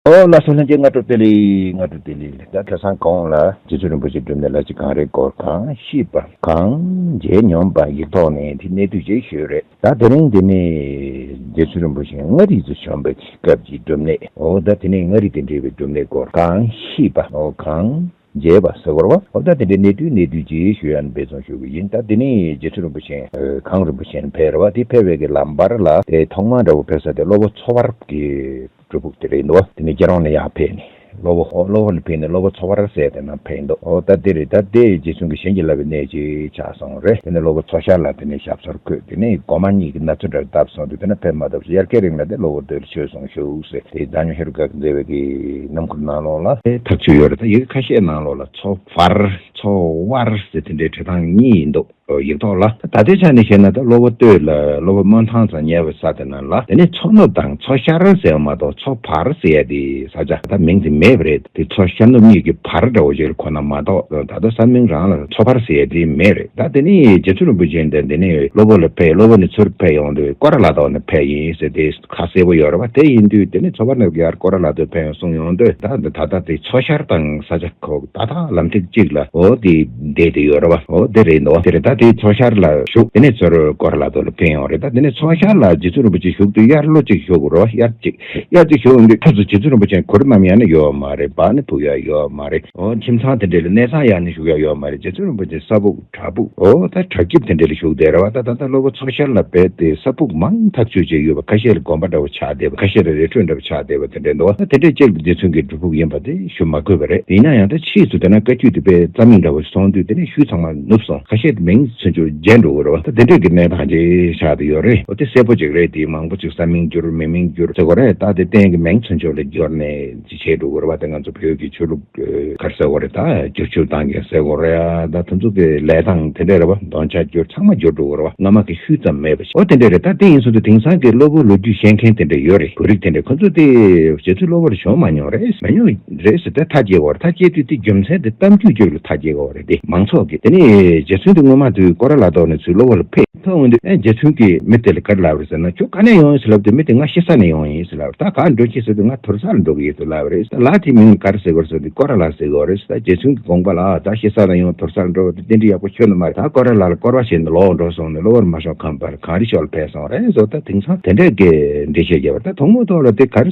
ཨོ་བླ་སེང་ལྷན་རྒྱས་སྔ་དྲོ་བསྟེན་ལེ། སྔ་དྲོ་བསྟེན་ལེ། ད་ཁ་སང་གོང་ལ་རྗེ་བཙུན་རིན་པོ་ཆེ་བསྒྲུབས་ནས་ལ་གཅིག་གང་རེད་སྐོར་གང་ཤེས་པ་གང་མཇལ་མྱོང་པ་ཡིག་ཐོག་ནས་དེ་གནད་བསྡུས་རྗེས་ཤོད་རེད་ད་དེ་རིང་འདི་ནས་རྗེ་བཙུན་རིན་པོ་ཆེ་མངའ་རིས་སུ་བྱོན་པའི་སྐབས་ཀྱི་སྒྲུབ་གནས་ཨོ་ད་དེ་ནས་མངའ་རིས་དེ་འབྲེལ་བའི་སྒྲུབ་གནས་སྐོར་གང་ཤེས་པ་ཨོ་གང། མཇལ་བ་ཟེར་བར་བ། འོ་ད་དེ་འདྲའི་གནས་དུས་གནས་དུས་ཀྱི་ཞུ་ཡང་འབད་བརྩོན་ཞུ་གི་ཡིན་ད་དེ་ནས་རྗེ་ཁྲི་རིན་པོ་ཆེ། གངས་རིན་པོ་ཆེ་ནས་ཕེར་བ་དེ་ཕེར་བའི་གི་ལམ་བར་ལ་དེ་ཐོག་མ་འདྲ་བོ་ཕེར་ས་དེ་གློ་བོ་མཚོ་བར་གི་སྒྲུབ་ཕུག་དེ་རེད་འདུག་བ་དེ་ནས་རྒྱལ་རོང་ནས་ཡང་ཕེར་ནས་གློ་བོ་གློ་བོ་ནས་ཕེར་ནས་གློ་བོ་མཚོ་བར་ཟེར་དེ་ནང་ཕེར་འདུག་འོ་ད་དེ་རེད་ད་དེ་རྗེ་བཙུན་གྱི་བྱིན་གྱིས་བརླབས་པའི་གནས་ཅིག་ཆགས་སོང། རེད། དེ་ནས་གློ་བོ་མཚོ་ཤར་ལ་དེ་ནས་ཞབས་སོར་བཀོད་དེ་ནས་སྒོ་མ་གཉིས་ཀྱི་ན་ཚོད་འདྲར་བརྡབས་སོང་དུས་དེ་ན་ཕེབས་མ་ཐུབ་ཟེར་ཡར་ཁའི་རིང་ལ་དེ་གློ་བོ་འདིར་བྱོལ་སོང་ཤུགས་ཟེར་དེ་རྫ་ཉོ་ཧེ་རུ་གག་འཛེར་བས་ཀྱི་ནམ་ཁུར་ནང་ལོགས་ལ། ཐག་ཆོད་ཡོད་རེད་ད་ཡི་གེ་ཁ་ཤས་ནང་ལོགས་ལ་མཚོ་བར་མཚོ་བར་ཟེར་དེ་འདྲའི་བྲེ་ཐང་གཉིས་ཡིན་འདུག་ཡིག་ཐོག་ལ་ད་ལྟའི་ཆ་ནས་བཤད་ན་ད་གློ་བོ་སྟོད་ལ་གློ་བོ་སྨོན་ཐང་ཚང་ཉལ་བའི་ས་དེ་ན་ལ་དེ་ནས་མཚོ་ནུབ་དང་མཚོ་ཤར་ཟེར་བ་མ་གཏོགས་མཚོ་བར་ཟེར་ཡ་དེ་ས་ཆ་ད་མིང་དེ་མེད་པ་རེད། དེ་མཚོ་ཤར་ནུབ་གཉིས་ཀྱི་བར་འདྲ་བོ་ཞིག་ཁོ་ན་མ་གཏོགས་ད་ལྟ་ས་མིང་རང་ལ་མཚོ་བར་ཟེར་ཡས་དེ་མེད་རེད་ད་དེ་ནས་རྗེ་བཙུན་རིན་པོ་ཆེ་འདི་འདི་ནས་སློབ་བུ་ལ་ཕེབས་སློབ་བུ་ནས་ཚུར་ཕེབས་ཡོང་དུས་ཀོ་ར་ལ་དོག་ནས་ཕེབས་ཡིན་ཟེར་དེ་ཁ་གསལ་བོ་ཡོད་རེད་བ་དེ་ཡིན་དུས་དེ་ནས་མཚོ་བར་ནས་ཀར་ཀོ་ར་ལ་དོད་ཕེབས་ཡོང་གསུངས་ཡོང་དུས་ད་ད་ལྟ་དེ་མཚོ་ཤར་དང་ས་ཆ་ཁོག་ཏག་ཏག་ལམ་ཐིག་གཅིག་ལ་འོ་དེ་བསྡད་དེ་ཡོད་རེད་བ་འོ་དེ་རེད་འདོད་དེ་རེད་ད་དེ་མཚོ་ཤར་ལ་བཞུགས་དེ་ནས་ཚུར་ཀོ་ར་ལ་དོད་ལ་ཕེབས་ཡོང་རེད་ད་དེ་ནས་མཚོ་ཤར་ལ་རྗེ་བཙུན་རིན་པོ་ཆེ་བཞུགས་དུས་དབྱར་ལོ་གཅིག་བཞུགས་རེད་བ་དབྱར་གཅིག། དབྱར་གྱི་ཞོ་འོན་པའི་དུས་སུ་བྱེ་ཚུལ་རིན་པོ་ཆེ་གོ་རིམ་མམ་ཡང་ན་ཡོད་པ་མ་རེད་བག་ནི་ཕུག་ཡང་ཡོད་པ་མ་རེད་འོ་ཁྱིམ་ཚང་དེ་འདྲའི་ལ་གནས་ཚང་ཡང་ནི་བཞུགས་ཡང་ཡོད་པ་མ་རེད་བྱེ་ཚུལ་རིན་པོ་ཆེ་ས་ཕུག་བྲག་ཕུག་འོ་ད་བྲག་སྐྱིབས་དེ་འདྲའི་ལ་བཞུགས་བསྡད་ར་བ་ད་ད་ལྟ་སློབ་བུ་ཚོ་ཤར་ལ་བེད་དེ་ས་ཕུག་མང་ཐག་ཆོད་བྱས་ཡོད་པ་ཁ་ཤས་ལ་དགོན་པ་འདྲ་བོ་ཆགས་བསྡད་པ་ཁ་ཤས་ལ་རི་ཁྲོད་འདྲ་བོ་ཆགས་བསྡད་པ་དེ་འདྲའི་འདུག་ད་དེ་འདྲའི་སྤྱིར་འདི་ཚུན་གྱི་སྒྲུབ་ཕུག་ཡིན་པ་དེ་ཞུ་མ་དགོས་པ་རེད་ཡིན་ན་ཡང་ད་ཕྱིས་སུ་དེ་ན་བཀའ་བརྒྱུད་དུ་དཔལ་རྩ་མིག་འདྲ་བོ་སོང་དུས་དེ་ནས་ཤུལ་ཚང་མ། ནུབ་སོང་ཁ་ཤས་མིང་མཚོན་ཆུ་རྗེས་འགྲོ་འོས་རོ། ད་དེ་འདྲ་གི་གནས་ཐང་ཅིག་ཤག་ཏུ་ཡོད་རེད་འོ་དེ་གསལ་པོ་ཅིག་རེད་དེ་མང་པོ་ཅིག་ས་མིང་བསྒྱུར་མི་མིང་བསྒྱུར་ཟེར་གོ་རེད་ད་དེ་གཏན་གི་མིང་མཚོན་ཆུ་ལ་བསྒྱུར་ནས་ཅི་བྱེད་འགྲོ་འོས་རེད་ད་ང་ཚོ་བོད་ཀྱི་ཆོས་ལུགས་སྒར་ཟེར་གོ་རེད་ད་བསྒྱུར་ཆུ་ཐང་གི་ཟེར་གོ་རེད་ད་དུ་མཚུངས་ཀི་ལས་ཐང་དེ་འདྲ་རེད་བ་གདོན་ཆགས་བསྒྱུར་ཚང་མ་བསྒྱུར་འགྲོ་འོས་རེད་བ་ང་མ་གི་ཤུལ་ཙམ་མེད་པ་ཞིག་འོ་དེ་འདྲ་རེད་ད་དེ་ཡིན་ཟུང་དུ་དེང་སང་གི་སློབ་བུ་ལོ་རྒྱུས་ཤེས་མཁན་དེ་འདྲ་ཡོད་རེད་བོད་རིགས་དེ་འདྲ་ཁོ་ཚོ་དེ་བྱེད་ཚུལ་སློབ་བར་བྱུང་མ་མྱོང་རེད་མ་མྱོང་རེད་ད་ཐག་བཅད་གོ་རེད་ཐག་བཅད་དུས་དེ་རྒྱུ་མཚན་དེ་གཏམ་རྒྱུད་རྒྱུད་ལ་ཐག་བཅད་གོ་རེད། ཏེ། མང་ཚོགས་ཀྱིས་དེ་ནི་རྗེ་བཙུན་དེ་སྔོན་མ་དུས་ཀོ་ར་ལ་ལྡོག་ནས་ཚུར་གློ་བོ་ལ་ཕེབས། ཐོན་འོང་དུས་རྗེ་བཙུན་གྱིས་མི་དེ་ལ་ག་རེ་ལབ་རེད་ཟེར་ན་ཁྱོད་ག་ནས་ཡོང་ཡིན་ཟེར་ལབ་དུས་མི་དེས་ང་ཤི་ས་ནས་ཡོང་ཡིན་ཟེར་ལབ་ད་ག་ལ་འགྲོ་ཁྱི་ཟེར་དུས་ང་དོལ་ས་ལ་འགྲོ་གི་ཡོད་ཟེར་ལབ་རེད་ད་ལགས་དེའི་མིང་ནི་ག་རེ་ཟེར་གོ་རེ་ཟེར་དུས་ཀོ་ར་ལགས་ཟེར་གི་འོ་རེད་ཟེར་ད་རྗེ་བཙུན་གྱིས་དགོངས་པ་ལ་ད་ང་ཤི་ས་ལ་ཡོང་དོལ་ས་ལ་འགྲོ་བ་དེ་རྟེན་འབྲེལ་ཡག་པོ་ཁྱོད་ནི་མ་རེད་ད་ཀོ་ར་ལགས་ལ་སྐོར་བ་བྱས་ནས་ལོག་འགྲོ་གསུངས་ནས་གློ་བོ་རུ་མ་ཤོང་ཁམས་པར་གངས་རི་ཤོག་ལ་ཕེབས་སོང་རེད་ཟེར་ད་དེང་སང་དེ་འདྲའི་དགེ་འདྲེ་ཤེས་རྒྱ་བ་ད་དོང་མོ་ཐོག་ལ་དེ་ག་རེ་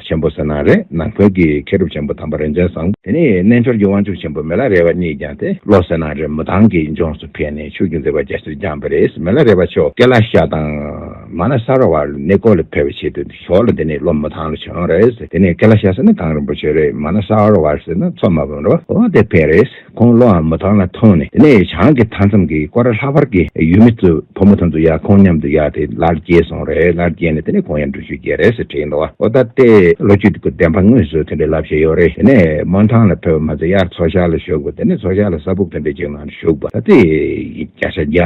ཆེན་པོ་ཟེར་ན་རེད་ནང་ཁུལ་གྱི་མཁས་གྲུབ་ཆེན་པོ་དམ་པ་རིན་ཆེན་བཟང་པོ་དེ་ནི་རྣལ་འབྱོར་གྱི་དབང་ཕྱུག་ཆེན་པོ་མེ་ལ་རས་པ་གཉིས་བརྒྱངས་ཏེ་ལོ་ཟེར་ན་རེད་མི་ཐང་གི་ལྗོངས་སུ་ཕེབས་ནས་ཕྱུགས་ཀྱི་མཛེས་པ་རྒྱ་ཆེར་བརྒྱངས་པ་རེད་མེ་ལ་རས་པ་ཆོས་སྐལ་ལ་ཤ་དང། མ་ལ་ས་ར་བ་ལ་ནི་ཀོ་ལ་ཕེབས་པའི་ཆེད་དུ་ཞོག་ལ་དེ་ནི་ལོ་མི་ཐང་ལ་བྱོན་རེད་དེ་ནི་སྐལ་ལ་ཤ་ཟེར་ན་གངས་རིན་པོ་ཆེ་རེད་མ་ལ་ས་ར་བ་ཟེར་ན་མཚོ་སྨད་བུམ་ར་བ་དེ་ཕེབས་རེད། ཁོང་བློ་འམ་མོ་དག་ལ་མཐོང་ནས་གནས་ཡོད་བྱང་གི་མཐའ་མཚམས་ཀྱི་ཀོ་ར་ལྷག་པར་གྱི་ཡུལ་མི་ཚོས་བུ་མོ་ཐམ་དུ་ཡག་ཁོང་མཉམ་དུ་ཡག་དེ་ལར་སྐྱེས་སོང་རེད་ལར་སྐྱེས་ནས་དེ་ནས་ཁོང་ཡང་འགྲུལ་བཞུད་རྒྱལ་རེད་ཟེར་དྲིས་འདུག་ཨོ་ད་ལྟའི་ལོ་རྒྱུས་དེ་ཀུན་བདེན་པ་དངོས་སུ་ཐོན་པའི་བསླབ་བྱ་ཡོད་རེད་དེ་ནས་མོ་ཐང་ལ་ཕེབས་པ་མ་ཚད་ཡར་མཚོ་ཤར་ལ་བཞུགས་པ་དེ་ནས་མཚོ་ཤར་ལ་ས་ཕུག་ཐོན་པའི་རྗེས་མ་ལ་བཞུགས་པ་ད་ལྟའི་བརྒྱ་ཆ་བརྒྱ།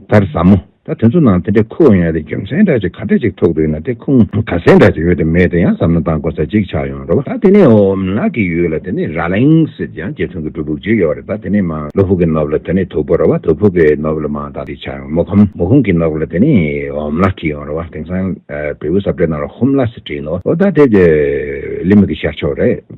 ལྟར་ཟབ་མོ། ད་དེ་ཚོ་ནང་དེ་འདྲའི་ཁུ་བ་ཡོད་ན་དེ་རྒྱུ་མཚན་འདྲ་ཅིག་ག་འདྲ་ཅིག་ཐུག་འདུག་ན་དེ་ཁུངས་ག་གསལ་འདྲ་ཅིག་ཡོད་དེ་མེད་དེ་ཡང་ཟབ་ན་དང་གོ་ས་གཅིག་ཆགས་ཡོང་རོགས། ད་དེ་ནས་འོ་ནག་གི་ཡུལ་ལ་དེ་ནས་ར་ལིང་སིད་ཡང་རྗེ་བཙུན་གྱི་སྒྲུབ་ཕུག་ཅིག་ཡོད་རེད་ད་དེ་ནས་མང་ལོ་ཕུག་གི་ནོབ་ལ་དེ་ནས་དུག་པོ་ར་བ་དུག་ཕུག་གི་ནོབ་ལ་མང་དག་ཅིག་ཆགས་ཡོང་མོ་ཁམ་མོ་ཁུང་གི་ནོབ་ལ་དེ་ནས་འོ་ནག་གི་ཡོང་ར་བ་དེང་སང་བེའུ་སྲབ་གྲེ་ནང་ལ་ཧུམ་ལ་སི་བྲིས་འདུག་ད་དེ་ལི་མི་གི་ཤར་ཕྱོགས་རེད།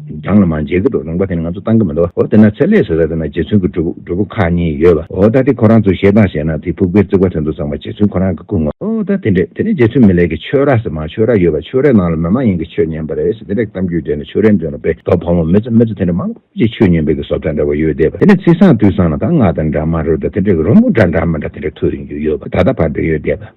རྒྱང་ལ་མ་མཇལ་གི་འགྲོ་རུང་པ་དེ་ནི་ང་ཚོ་ཏང་གི་མི་འདུག་འོ་དེ་ན་ཚད་ལས་བཟོ་ས་དེ་ན་རྗེ་བཙུན་གྱི་སྒྲུབ་པོ་ཁག་གཉིས་ཡོད་པ་འོ་ད་དེ་ཁོ་རང་ཚོས་ཞེ་སྡང་བྱས་ན་དེ་ཕུག་པའི་རྩིག་པ་དེ་འདུག་ཚང་མ་རྗེ་བཙུན་ཁོ་རང་གི་སྐུ་ངོ། འོ་ད་དེ་འདྲས་དེ་ནས་རྗེ་བཙུན་མི་ལེགས་ཀྱི་ཆོས་ར་ཟེར་མ་ཆོས་ར་ཡོད་པ་ཆོས་རའི་ནང་ལ་མི་མ་ཡིན་གྱི་ཆོས་ཉན་པ་རེད་ཟེར་དེ་འདྲས་གཏམ་རྒྱུད་འདྲས་ནས་ཆོས་རའི་མདུན་ལ་དཔེ་དོག་ཕོ་མོ་མི་ཚེ་མི་ཚེ་དེ་འདྲས་མང་པོ་ཅིག་ཆོས་ཉན་པའི་གི་སོབ་ད་འདྲ་བ་ཡོད་བསྡད་པ་དེ་ནས་ཚིག་བཟང་དུས་བཟང་ན་ད་ང་དང་འདྲ་མ་རུ་ད་དེ་འདྲས་གི་རོ་མོ་འདྲ་འདྲ་མི་འདྲ་དེ་འདྲས་ཐུག་རིན་རྒྱུ་ཡོད་པ་ད་ད་བར་འདྲས་ཡོད་བསྡད་པ།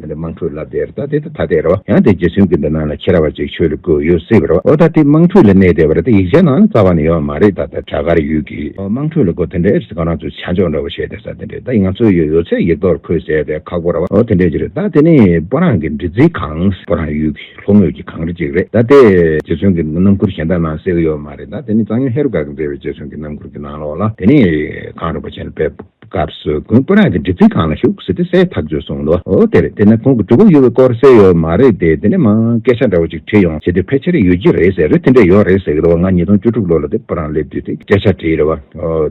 ད་ལྟའི་དམངས་ཁྲོད་ལབ་དེ་ར་ད་དེ་ད་ད་དེ་ར་བ་ཡང་དེ་རྗེ་བཙུན་གྱི་འདི་ན་ལ་ཁྱེར་བ་ཅིག་ཆོས་ལ་གོས་ཡོད་སྲིད་པ་ར་བ་འོ་ད་དེ་དམངས་ཁྲོད་ལ་གནས་དེ་བ་ར་ད་ཡིག་ཆ་ནང་ལ་རྩ་བ་ནས་ཡོད་མ་རེད་ད་ད་བྲག་དཀར་ཡུལ་གྱི་དམངས་ཁྲོད་ལ་གོ་དེ་འདྲའི་རིས་གང་རང་ཚོའི་བྱ་འཇོག་འདྲ་བོ་བྱས་དེ་ས་དེ་འདྲའི་ད་ཡིག་ང་ཚོའི་ཡོད་ཡོད་ཚད་ཡིག་ཐོག་ལ་འཁོད་ཟེར་དེ་ཁག་པོ་ར་བ་འོ་དེ་འདྲའི་ཅི་རེད་ད་དེ་ནི་པོ་རང་གི་འདྲི་ཚིག་གང་པོ་རང་ཡུལ་གྱི་ལྷོ་ངོས་ཀྱི་གངས་རི་ཅིག་རེད་ད་དེ་རྗེ་བཙུན་གྱི་རྣམ་འཁུར་གཞན་དག་ནང་གསལ་གྱི་ཡོད་མ་རེད་ད་དེ་ནི་གཙང་ཡུལ་ཧེ་རུ་ཀ་གི་མཛེས་པའི་རྗེ་བཙུན་གྱི་རྣམ་འཁུར་གྱི་ནང་ལོགས་ལ་དེ་ནི་གངས་རིན་པོ་ཆེ་ལ་དཔལ་སྐབས་སུ་ཁོང་སྐུ་རགས་ཀྱི་འདྲི་ཚིག་གང་ལ་ཞུགས་ཟེར་ཏེ་གསལ་ཐག་བརྗོད་སོང་ལོ་དེར་དེ་ནས་ཁོང་གི་གྲུ་གུ་གཡོ་བའི་སྐོར་གསལ་ཡོད་མ་རེད་དེ་དེ་ནས་མ་སྐད་ཆ་འདྲ་བོ་ཅིག་བྲིས་ཡོང་བྱས་དུས་ཕལ་ཆེར་ཡོད་ཀྱི་རེད་ཟེར་རེད་དེ་འདྲ་ཡོད་རེད་ཟེར་གི་འདུག་བ་ང་ཉིས་སྟོང་བཅུ་དྲུག་ལོ་ལ་དེ་སྤོ་རང་སླེབས་དུས་དེ་སྐད་ཆ་བྲིས་རེད་བ་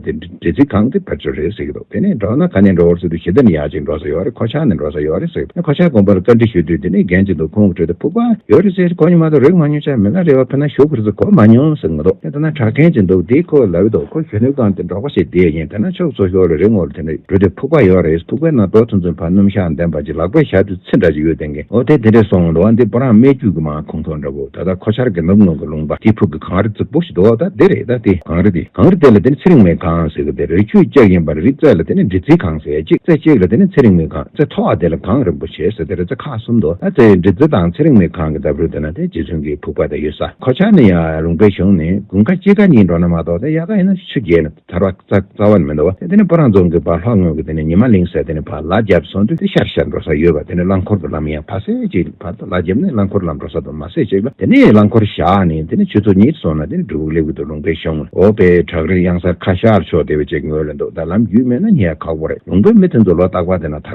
དེ་འདྲི་ཚིག་གང་གི་བར་གཅོད་རེད་ཟེར་གི་འདུག་དེ་ནས་འགྲོ་ན་ག་ནས་འགྲོ་བར་ཟེར་དུས་ཞི་བདེ་ནས་ཡག་ཅིག་འགྲོ་ས་ཡོད་རེད་ཁོ་ཆག་ནས་འགྲོ་ས་ཡོད་རེད་ཟེར་གི་འདུག་ཁོ་ཆག་དགོངས་པར་བཀའ་འདྲི་ཞུས་དུས་དེ་ནས་རྒན་གཅིག་འདུག་ཁོང་གི་ཁྲོད་དུ་ཕུག་པ་ཡོད་རེད་ཟེར་གི་ཁོ་ཉི་མ་དང་རིག་མ་མྱོང་ཆ་མེད་ན་རེ་བ་ཕེ་ན་ཞུ་དགོས་རེད་ཟེར་གི་གོ་མ་མྱོང་ཟེར་གི་འདུག། ཐ་ན་གྲགས་ཅན་ཅིག་འདུག་དེ་ཁོ་ལབ་ཡོད་འདུག་ཁོ་གཞོན་ནུ་དང་དེ་འགྲོགས་པ་ཞིག་བསྡད་ཡིན་ཐ་ན་ཕྱོགས་སོ་ཞོག་ལ་རེ་ངོར་དེ་འདྲ་འགྲོ་དུས་ཕུག་པ་ཡོད་རེད་ཕུག་པའི་ནང་འགྲོ་ཚུན་ཚུན་བར་སྣུམ་ཞག་འདེམས་པ་ཅིག་ལག་པས་བཞག་དུས་ཚིག་འདྲ་ཅིག་ཡོད་དེ་འགའི་འོ་དེ་དེ་འདྲས་སོང་འགྲོ་བ་འདི་བུ་རང་སྨད་རྒྱུད་ཀྱི་མ་ཁོང་ཁྲོ་འདྲ་བོ་ད་ལྟ་ཁོ་ཆར་གྱི་ནུབ་ངོས་ཀྱི་ལུང་པ་དེའི་ཕུག་གི་གངས་རི་རྫིག་པོ་ཞིག་འདུག་ད་དེ་རེད་ད་དེ་གངས་རི་དེ་གངས་རི་དེ་ལ་དེ་ནི་ཚེ་རིང་མོའི་གངས་ཟེར་གི་དེ་རི་ཆུའི་ལྕགས་ཡིན་པར་རི་རྩེ་ལ་དེ་ནི་འབྲི་རྩིའི་གངས་ཟེར་གཅིག་རྩེ་གཅིག་ལ་དེ་ནི་ཚེ་རིང་མོའི་གངས་རྩེ་མཐོ་བ་དེ་ལ་གངས་རིན་པོ་ཆེ་ཟེར་དེ་རི་རྩེ་ཁག་གསུམ་འདུག་ད་རྩེ་འབྲི་རྩེ་དང་ཚེ་རིང་མོའི་གངས་ཀྱི་འདབས་རོལ་དུ་ན་དེ་རྗེ་བཙུན་གྱི་ཕུག་པ་དེ་ཡོད་ས། གོ་ཆ་ནི་ཡང་རུང་བས་བྱུང་ནས་དགུན་ཁ་དཔྱིད་ཁ་གཉིས་འགྲོ་ན་མ་གཏོགས་དེ་ཡག་ག་ཡིན་ན་ཆུ་རྒྱས་ནས་ཐར་བ་རྩ་བ་ནས་མི་འདུག་བ་དེ་ནས་སྤོ་རང་རྫོང་གི་བར་ལྷོ་ངོས་ཀྱི་དེ་ནས་ཉི་མ་གླིང་ཟེར་དེ་ནས་བར་ལག་རྒྱབ་སོང་དུས་དེ་ཤར་ཤར་འགྲོ་ས་ཡོད་པ་དེ་ནས་རླངས་འཁོར་གྱི་ལམ་ཡང་ཕ་སེ་གཅིག་ལ་བར་དུ་ལག་རྒྱབ་ནས་རླངས་འཁོར་ལམ་འགྲོ་ས་དུ་མ་སེ་གཅིག་ལ་དེ་ནས་རླངས་འཁོར་བཞག་ནས་དེ་ནས་ཆུ་ཚོད་གཉིས་སོང་ན་དེ་ནས་གྲུ་གུ་ལེབ་གུ་དུ་རུང་བས་བྱུང་འོ་དཔེ་བྲག་རི་གཡང་གཟར་ཁ་ཤར་ཕྱོགས་དེ་བས་ཅིག་ངོས་ལ་འདུག་ད་ལམ་རྒྱུས་མེད་ན་ཉལ་ཁག་པོ་རེད་རུང་བས་མི་དེ་ཚོ་ལོ་རྟག་པ་དེ་ན་ཐར།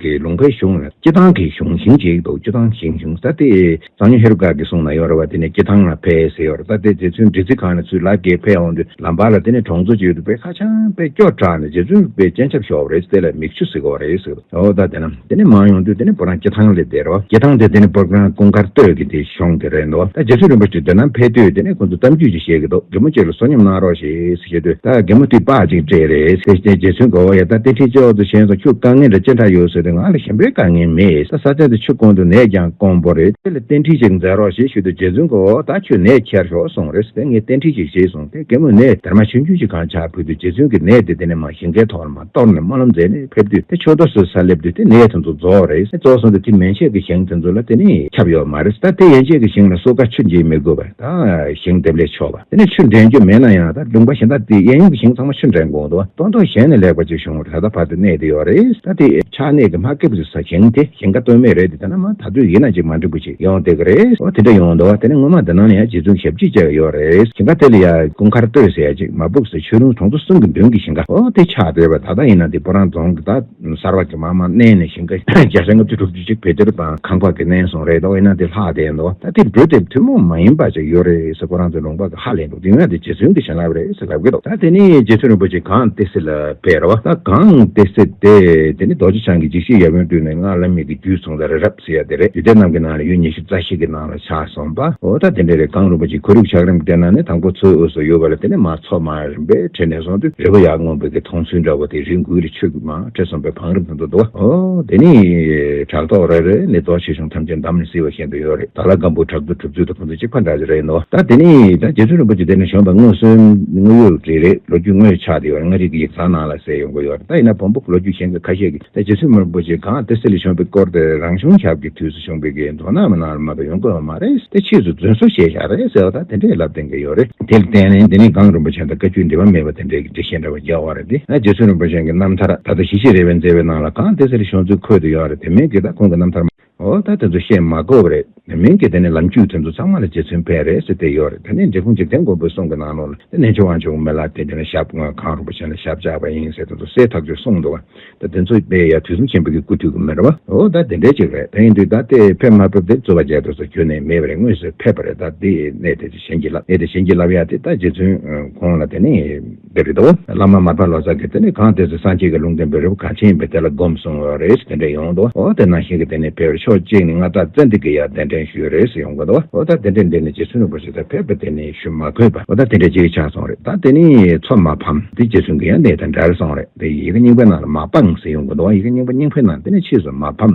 གི་ལུང་པའི་གཞུང་ལ་སྐྱེ་ཐང་གི་གཞུང་ཞིང་ཞིག་འདུག་སྐྱེ་ཐང་ཞིང་གཞུང་ས་དེ་གཙང་ཉོ་ཧེ་རུ་ཀ་གི་གསུང་ན་ཡོད་རེད་བ་དེ་ནས་སྐྱེ་ཐང་ལ་ཕེ་ཟེར་ཡོད་རེད་ས་དེ་རྗེ་བཙུན་བདུད་རྩི་ཁང་ནས་ཚུར་ལག་འགེལ་ཕེ་འོང་དུས་ལམ་བར་ལ་དེ་ནས་གྲོང་ཚོ་གཅིག་ཡོད་འདུག་པས་ཁ་བྱང་དཔེ་སྐྱོར་དྲག་ནས་རྗེ་བཙུན་པའི་སྤྱན་ཆབ་ཞོག་རེད་ཟེར་ལ་མིག་ཆུ་ཟིག་གོ་རེད་ཟེར་འོ་ད་དེ་ནས་མང་ཡོང་དུས་དེ་ནས་བུ་རང་སྐྱེ་ཐང་ལས་བསྡད་རོ་སྐྱེ་ཐང་དེ་དེ་ནས་པུར་ཁང་སྐུ་མཁར་སྟོད་ཀྱི་དེ། གཞུང་དེ་རེད་འདུག་ད་རྗེ་བཙུན་རིན་པོ་ཆེ་འདི་ན་ཕེབས་དུས་དེ་ནས་ཁོང་ཚོ་གཏམ་རྒྱུད་ཅིག་བཤད་གི་འདུག་རྒན་མོ་ཅིག་ལ་བསོད་སྙོམས་གནང་རོགས་ཞེས་བཤད་དུས་ད་རྒན་མོ་དུས་དཔག་ཅིག་སྤྲད་རེད་དེ་རྗེ་བཙུན་དགའ་བོ་ཡ་ད་ཏི་ཁྲི་ཅོག་ཙེ་ཆེན་སོང་ཁྱོས་དཀའ་ངལ་འདྲ་ཅི་འདྲ་ཡོད་ཟེར་དུས་ང་ལ་གཞན་པའི་དཀའ་ངལ་མེད་ད་ས་སྟེང་དུ་ཆུ་བསྐོན་འདུག་ནས་ཀྱང་སྐོང་པོ་རེད་དེ་ལ་རྟེན་ཁྲི་ཅིག་མཛད་རོགས་ཞེས་ཞུས་དུས་རྗེ་བཙུན་དགའ་བོ་ད་ཁྱོས་ནས་ཁྱེར་ཤོག་སོང་རེས་དེ་ངས་རྟེན་ཁྲི་ཞིག་བཞེས་སོང་དེ་རྒན་མོས་ནས་དར་མ་ཆུང་ཆུང་ཞིག་གང་ཆག་ཕུལ་དུས་རྗེ་བཙུན་གྱིས་ནས་དེ་དེ་ནས་མ་ཞིག་འགས་ཐོག་ལ་མ་གཏོར་ནས་སྨོན་ལམ་མཛད་ནས་ཕེབས་དུས་དེ་ཆོས་ཐོག་སོས་སར་སླེབས་དུས་དེ་ནས་དེ་ཚོ་རྫོགས་རེད་ཟེར་རྫོགས་སོང་དུས་དེ་མན་ཆད་ཀྱི་ཞིང་དེ་ཚོ་ལ་དེ་ནས་ཁྱབ་ཡོད་མ་རེད་ད་དེ་ཡན་ཆད་ཀྱི་ཞིང་ལ་སོ་ཀ་ཆུ་འབྱིན་མི་དགོས་པར་ད་ཞིང་འདེབས་ལས་ཆོག་པ་དེ་ནས་ཆུ་འདྲེན་རྒྱུ་མེད་ན་ཡང་ད་ལུང་པ་བཞིན་ད་དེ་ཡན་ཡོང་གི་ཞིང་ཚང་མ་ཆུ་འདྲེན་དགོས་འདུག་སྟོང་ཐོག་གཞན་ནས་ལེགས་པ་ཅིག་བྱུང་བར་ད་ལྟ་བར་དུ་གནས་དེ་ཡོད་རེད་ད་དེ་ཆགས་གནས་ཀྱི་མ་ཀེ་པོ་ཅིག་ཟ་ཞིང་དེ་ཞིང་ཁ་ཏོན་མེད་རེད་དེ་ད་ན་མ་ད་དུས་ཡིན་ན་ཅིག་མ་འགྲིག་པོ་ཡོང་དེ་ག་རེད། འོ་དེ་འདྲ་ཡོང་འདུག་དེ་ནས་སྔོན་མ་དེ་ནང་ནས་ཡང་རྗེ་བཙུན་ཞབས་ཀྱིས་བཅས་ཀ་ཡོད་རེད་ཞིང་ཁ་དེ་ལ་ཡང་སྐུ་མཁར་སྟོད་ཟེར་ཡ་ཅིག་མ་སྦུག་ཟེར་ཆོས་རུང་གྲོང་ཚོ་གསུམ་གྱི་མདུན་གྱི་ཞིང་ཁ་འོ་དེ་ཆགས་བསྡད་པ་ད་ལྟ་ཡིན་ན་དེ་སྤོ་རང་རྫོང་གི་ད་གསར་བ་གྱི་མ་མ་བསྣན་ནས་ཞིང་ཁ་རྒྱ་ཤ་ང་བཅུ་དྲུག་ཅུ་གཅིག་བེ་ཏེར་དང་ཁང་པ་གི་བསྣན་སོང་རེད་འདུག་ཡིན་ན་དེ་ལྷག་བསྡད་འདུག་ད་དེ་འགྲུལ་དེབ་ཐུན་མོང་མ་ཡིན་པ་ཅིག་ཡོད་རེད་ཟེར་སྤོ་རང་ཚོའི་ལུང་པ་གི་ཧ་ལས་འདུག་དེ་སྔོན་དེ་རྗེ་བཙུན་གྱི་བྱིན་རླབས་རེད་ཟེར་ལབ་གི་འདུག་ད་དེ་ནི་རྗེ་བཙུན་རིན་པོ་ཆེ་གངས་ཏི་སེ་ལ་ཕེབས་ར་བ་ད་གངས་ཏི་སེ་དེ་དེ་ནི་རྡོ་རྗེ་འཆང་གི་འཇིགས་བྱེད་ཡབ་ཡུམ་སྤྲུལ་ནས་སྔགས་བླ་མེད་ཀྱི་རྒྱུད་ཚོང་ད་རེད་ར། ཟེར་ཡ་དེ་རེད་དུས་དེ་རྣམས་ཀྱི་ནང་ལ་ཡུལ་ཉེར་བཞི་རྩ་ཤེས་ཀྱི་ནང་ལ་ཆགས་སོང་པ་འོ་ད་དེ་འདྲ་རེད་གངས་རིན་པོ་ཆེ་གུ་རུག་ཆགས་རིམ་གྱི་སྟེང་ན་ནི་དང་པོ་ཚོའི་དབུས་སུ་ཡོད་པ་ལ་དེ་ནི་མ་ཚོགས་མ་རིན་པས་ཁྲིད་ནས་སོང་དུས་རི་བོ་ཡག་སྔོན་པོ་གི་མཐོང་ཚུལ་འདྲ་བོ་དེ་རི་འགུལ་རི་ཆོས་ཀྱི་མ་ཁྲིད་སོང་པའི་བང་རིམ་དང་དུ་འདུག་བ་འོ་དེ་ནི་བྲག་ཐོག་རེད་རེད་ནི་རྡོ་ཆེ་ཆུང་ཐམས་ཅད་འདམ་ནས་བསིལ་བ་བཞིན་དུ་ཡོད་རེད་ད་ལ་སྒམ་པོའི་བྲག་རྡོ་གྲུབ་ཚུལ་དང་ཕུང་ཚུལ་གཅིག་པ་འདྲ་ཅིག་རེད་འདུག་བ་ད་དེ་ནི་ད་རྗེ་བཙུན་རིན་པོ་ཆེ་འདི་ནས་བྱོན་པ་སྔོན་བསོད་དངུལ་ཡུལ་རི་རེད་ལོ་རྒྱུས་དངོས་ཆགས་དེ་ཡོད་རེད་མངའ་རིས་ཀྱི་ཡིག་ཚང་ནང་ལ་གསལ་ཡོང་གི་ཡོད་རེད་ད་ཡིན་ན་བོང་བུ་ལོ་རྒྱུས་གཞན་གྱི་ཁ་ཤས་ཀྱི་ད་རྗེ་བཙུན་མར་པོ་ཆེ་གངས་ཏི་སེ་ལ་བྱོན་པའི་སྐོར་དེར་རང་བྱུང་ཞབས་ཀྱི་དུས་སུ་བྱུང་བའི་དགེ་འདུན་རྣམས་ནང་ར་མ་པའི་ཡོན་དགོས་པ་མ་རེད་དེ་ཕྱིས་སུ་རྫུན་བཟོ་བྱས་ཤག་རེད་ཟེར་བ་དང་དེ་འདྲའི་ལབ་དེ་འགའ་ཡོད་རེད། དེར་བརྟེན་ནས་འདི་ནི་གངས་རིན་པོ་ཆེ་དང་བཀའ་བརྒྱུད་འབྲེལ་བ་མེད་པ་དེ་འདྲའི་འགྲེལ་བཤད་འདྲ་བ་རྒྱག་བ་རེད་དེ། རྗེ་བཙུན་རིན་པོ་ཆེན་གྱི་རྣམ་ཐར་ད་ལྟ་ཞི་ཞི་རེ་བའི་མཛད་པའི་ནང་ལ་གངས་ཏི་སེ་ལ་བྱོན་ཚུལ་འཁོད་དུ་ཡོད་རེད་དེ་མིན་གྱི་ད་ཁོང་གི་རྣམ་ཐར་མ་འོ་ད་དེ་ཚོ་བཤད་མ་དགོས་པ་རེད། མིང་གི་དེ་ནས་ལམ་བརྒྱུད་དེ་ཚོ་ཚང་མ་ལ་རྗེ་བཙུན་བེ་རེ་སི་དེ་ཡོད་རེད་དེ་ནས་འབྲི་གུང་འཇིག་རྟེན་མགོན་པོའི་གསུང་གི་ནང་ནོར་ལ་དེ་ནས་ཆོས་དབང་ཆེན་པོ་མེ་ལ་དེ་དེ་ནས་ཞབས་དངོས་གང་རུང་པོ་ཆེ་ལ་ཞབས་བཅག་པ་ཡིན་ཟེར་དེ་ཚོ་སྲས་ཐག་ཆོད་གསུང་འདུག་ད་དེ་ཚོ་བེ་ཡ་དུས་གསུམ་ཆེན་པོ་གི་སྐུ་དུས་ཀྱི་མི་རེད་བ་འོ་ད་དེ་འདྲ་ཅིག་རེད་དེ་ཡིན་དུས་ད་དེ་ཕེབས་མ་ཕེབས་དེ་རྩོད་པ་བྱེད་དུ་ཚོ་ཁྱོན་ནས་མེད་པ་རེད་དངོས་སུ་ཕེབས་པ་རེད་ད་དེ་ནས་དེ་ཚོ་བྱིན་གྱིས་བརླབས་ནས་དེ་བྱིན་གྱིས་བརླབས་ཡ་དེ་ད་རྗེ་བཙུན་ཁོང་ལ་དེ་ནས། དེ་རེད་དོ། བླ་མ་མར་པ་ལོ་ཙཱ་གིས་དེ་ནི་གང་དེ་ཚོ་སངས་རྒྱས་ཀྱི་ལུང་དོན་པའི་རི་བོ་གངས་ཆེན་ཡིན་པས་དེ་ལ་བསྒོམས་གསུང་བ་རེད་དེ་འདྲས་ཡོང་གི་འདུག་འོ་དེ་ནང་བཞིན་གྱི་དེ་ནི་ཕལ་བའི་ཕྱོགས་གཅིག་ནི་མངའ་བདག་བཙན་དིག་གི་ཡང་གདན་འདྲེན་ཞུས་རེད་ཡོང་གི་འདུག་འོ་ད་དེ་འདྲས་འདི་ནི་རྗེ་བཙུན་རིན་པོ་ཆེ་ཚོས་ཕལ་པ་དེ་ནི་ཞུ་མ་ཕོད་པ་འོ་ད་དེ་འདྲས་གཅིག་ཆགས་སོང་རེད་ད་དེ་ནི་ཚོགས་མ་ཕམ་དེ་རྗེ་བཙུན་གྱི་ཡང་གདན་དང་འདྲར་སོང་རེད་དེ་ཡི་གེ་རྙིང་པའི་ནང་ལ་མ་སྤངས་ཟེར་ཡོང་གི་འདུག་ཡི་གེ་རྙིང་པ་རྙིང་པའི་ནང་དེ་ནི་ཕྱིས་སུ་མ་ཕམ།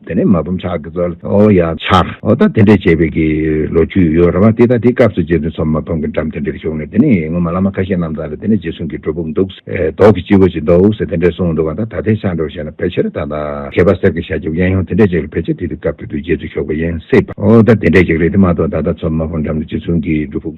དེ་ནས་མ་བུམ་ཕྱག་གི་རྩ་ལ་ཨོ་ཡ་ཕྱག་ཨོ་ད་དེ་འདྲས་བྱས་པའི་གི་ལོ་རྒྱུས་ཡོད་ར་བ་དེ་ད་དེ་སྐབས་སུ་རྗེ་བཙུན་ཚོ་མ་བུམ་གི་འགྲམ་དེ་འདྲས་བྱུང་ནས་དེ་ནས་ངོ་མ་བླ་མ་ཁ་ཤས་རྣམས་དང་ལ་དེ་ནས་རྗེ་བཙུན་གི་སྒྲོ་སྦུག་འདུག་ཟེ་རྡོག་གི་སྤྱི་བོ་ཅིག་འདུག་ཟེ་དེ་འདྲས་གསུངས་འདུག་བ་ད་ད་དེ་ཆགས་འགྲོ་བྱས་ན་ཕལ་ཆེར་ད་ད་མཁས་པ་གསེར་གི་ཤ་རྒྱབ་གཡན་ཡོང་དེ་འདྲས་ཅིག་ལ་ཕལ་ཆེར་དེ་དུས་སྐབས་དེ་དུས་རྗེ་བཙུན་ཞོགས་པ་ཡིན་སྲིད་པ་ཨོ་ད་དེ་འདྲས་ཅིག་རེད་དེ་མ་གཏོགས་ད་ད་ཚོ་མ་བུམ་འགྲམ་དུ་རྗེ་བཙུན་གི་སྒྲོ་སྦུག།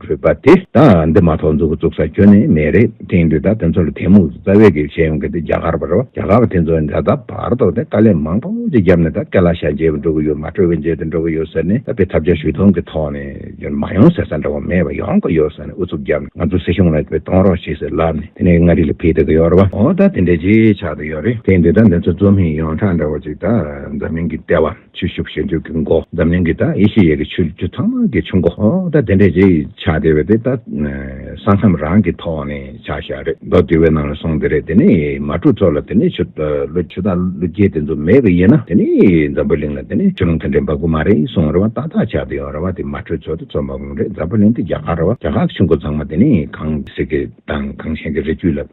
གྲོད་པ་དེ་དང་འདི་མ་ཐོག་མཛུ་གུ་བཙུགས་ས་ཁྱོན་ནས་མེད་རེད་དེང་དུས་ད་དེ་ཚོ་ལ་དེ་མུག་ཏུ་རྩ་བའི་གེགས་བྱས་ཡོང་གི་འདུག་རྒྱ་གར་བ་རེད་བ་རྒྱ་གར་བ་དེ་ཚོ་འདྲ་ད་བར་དོགས་ནས་དཀའ་ལས་མང་པོ་ཅིག་བརྒྱབ་ནས་ད་ཀེ་ལ་ཤ་འཇལ་བར་འགྲོ་གི་ཡོད་མ་གྲོས་བས་འཇལ་དུ་འགྲོ་གི་ཡོད་ཟེར་ནས་ད་དཔེ་ཐབས་བྱ་ཞུས་ཐོང་གི་ཐོག་ནས་ཡོད་མ་ཡོང་ཟེར་ས་འདྲ་བ་མེད་བ་ཡོང་གི་ཡོད་ཟེར་ནས་ཨུ་ཚུགས་བརྒྱབ་ནས་ང་ཚོ་སྲིད་གཞུང་ལ་དཔེ་གཏོང་རོགས་བྱེད་ཟེར་ལབ་ནས་དེ་ནས་མངའ་རིས་ལ་ཕེབས་ཏུ་གི་ཡོད་རེད་བ་འོ་ད་དེ་འདྲ་ཅིག་ཆགས་ཏུ་ཡོད་རེད་དེང་དུས་ད་འདི་ཚོ་རྩོམ་ཡིག་ཡོངས་གྲགས་འདྲ་བ་ཅིག་ད་འཛམ་གླིང་གི་ལྟེ་བ། ཆོས་ཞུགས་ཞལ་འཇུག་གི་མགོ། འཛམ་གླིང་གི་ཡེ་ཤེས་ཡས་ཀྱི་ཆོས་བརྒྱུད་ཚང་མ་གི་ཆུ་མགོ། ད་དེ་འདྲའི་རྗེས་ཆ་དེ་བས་དེ་ད་ས་མཚམས་རང་གི་ཐོག་ནས་ཆགས་ཤག་རེད་མདོ་སྡེ་བའི་ནང་ལ་སོང་དེ་རེད་དེ་ནས་མ་གྲུ་ཚོ་ལ་དེ་ནས་ཆུ་དང་ལུ་རྒྱལ་དེ་ཚོ་མེད་གི་ཡིན་ན་དེ་ནས་འཛམ་བུ་གླིང་ལ་དེ་ནས་ཆུ་ལུང་དེ་འདྲའི་འབབ་གི་མ་རེད་སོང་རེད་བ་ཏག་ཏག་ཆགས་དེ་ཡོང་རེད་བ་དེ་མ་གྲུ་ཚོ་དེ་ཚོ་འབབ་གི་རེད་འཛམ་བུ་གླིང་དེ་རྒྱ་གར་རེད་བ་རྒྱ་གར་གི་ཆུ་མགོ་ཚང་མ་དེ་ནས་གངས་སྐྱིད་ཀྱི་དང་གངས་ཞེན་གྱི་རི་རྒྱུད་ལ།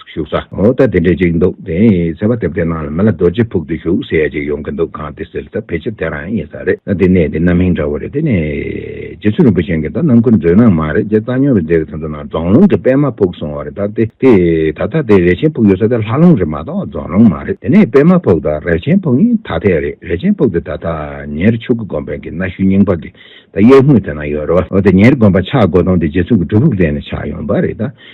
བཞུགས་ས། ངོ་ད་དེ་འདྲས་ཅིག་འདུག་དེ་ཡིན་ཟེར་བ་དེབ་དེ་ནང་ལ་མི་ལ་རྡོ་རྗེ་ཕུག་ཏུ་བཞུགས་ཟེར་ཡ་ཅིག་ཡོང་གི་འདུག་གང་དེ་ཟེར་ད་ཕལ་ཆེར་དེ་རང་ཡིན་ས་རེད་ད་དེ་གནས་དེ་རྣམ་སྨིན་འདྲ་བོ་རེད་དེ་ནས། རྗེ་བཙུན་རིན་པོ་ཆེ་འགས་ད་རྣམ་ཀུན་མཛོད་ནང་མ་རེད་རྗེ་བཙའ་སྨྱོན་རེད་འདྲེ་གི་ཐུན་ཚོགས་ནང་རྫོང་ལུང་གི་པདྨ་ཕུག་གསུང་བ་རེད་ད་དེ་དེ་ད་ལྟ་དེ་རས་ཆེན་ཕུག་ཡོད་ས་དེ་ལྷ་ལུང་རེད་མ་གཏོགས་རྫོང་ལུང་མ་རེད་དེ་ནས་པདྨ་ཕུག་དང་རས་ཆེན་ཕུག་གཉིས་ཐ་དད་རེད་རས་ཆེན་ཕུག་དེ་ད་ཐ་ཉེར་ཕྱུག་གི་དགོན་པའི་གི་གནའ་ཤུལ་རྙིང་པ་གི་ད་གཡས་ངོས་དེ་ན་ཡོད་རོ་ཨོ་དེ་ཉེར་དགོན་པ་ཆགས་དགོས་དོན་དེ་རྗེ་བཙུན་གི་སྒྲུབ་ཕུག་དེ་ནས་ཆགས་ཡོང་པ་རེད་ད།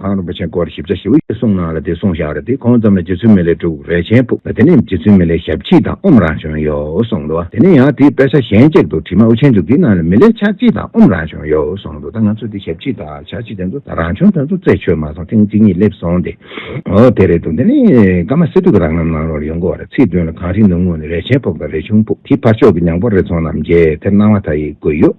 ཨ་རོན་པོ་ཆེ་སྐོར་ཞིབ་བྱ་ཞིག་ཨུ་ཡོན་གསུང་གནང་ལ་དེ་གསུང་བཞག་རེད་དེ་གོང་ཙམ་ལ་རྗེ་བཙུན་མི་ལའི་དྲུག་རེ་ཆེན་ཕུབ་དེ་ནས་རྗེ་བཙུན་མི་ལའི་ཞབས་ཕྱི་དང་ཨུམ་རང་བྱོན་ཡོད་གསུང་འདུག་དེ་ནས་ཡང་དེའི་དཔེ་ཆ་གཞན་གཅིག་ཏུ་བྲིས་མ་ཨུ་ཆེན་བཅུ་དེའི་ནང་ལ་མི་ལའི་ཕྱག་ཕྱི་དང་ཨུམ་རང་བྱོན་ཡོད་གསུང་འདུག་ད་ང་ཚོས་དེ་ཞབས་ཕྱི་དང་ཕྱག་ཕྱི་དེ་ཚོ་ད་རང་བྱོན་དེ་ཚོ་རྩད་ཆོད་མ་སོང་ཐེངས་གཅིག་གཉིས་སླེབས་སོང་སྟེ་འོ་དེ་རེད་འདུག་དེ་ནས་ཀ་མ་སི་ཏུ་གི་རང་རྣམ་གནང་རོགས་རེད་ཡོང་གི་བ་རེད་ཚིག་དོན་ལ་གངས་རི་ནུབ་ངོས་ནས་རེ་ཆེན་ཕུབ་དང་རེ་ཆུང་ཕུབ་དེའི་ཕར་ཕྱོགས་ཀྱི་ཉང་པོ་རེ་ཚོང་རྣམས་རྒྱས་དེར་སྣང་བ་ད་ཡིག་དགོས་ཡོད།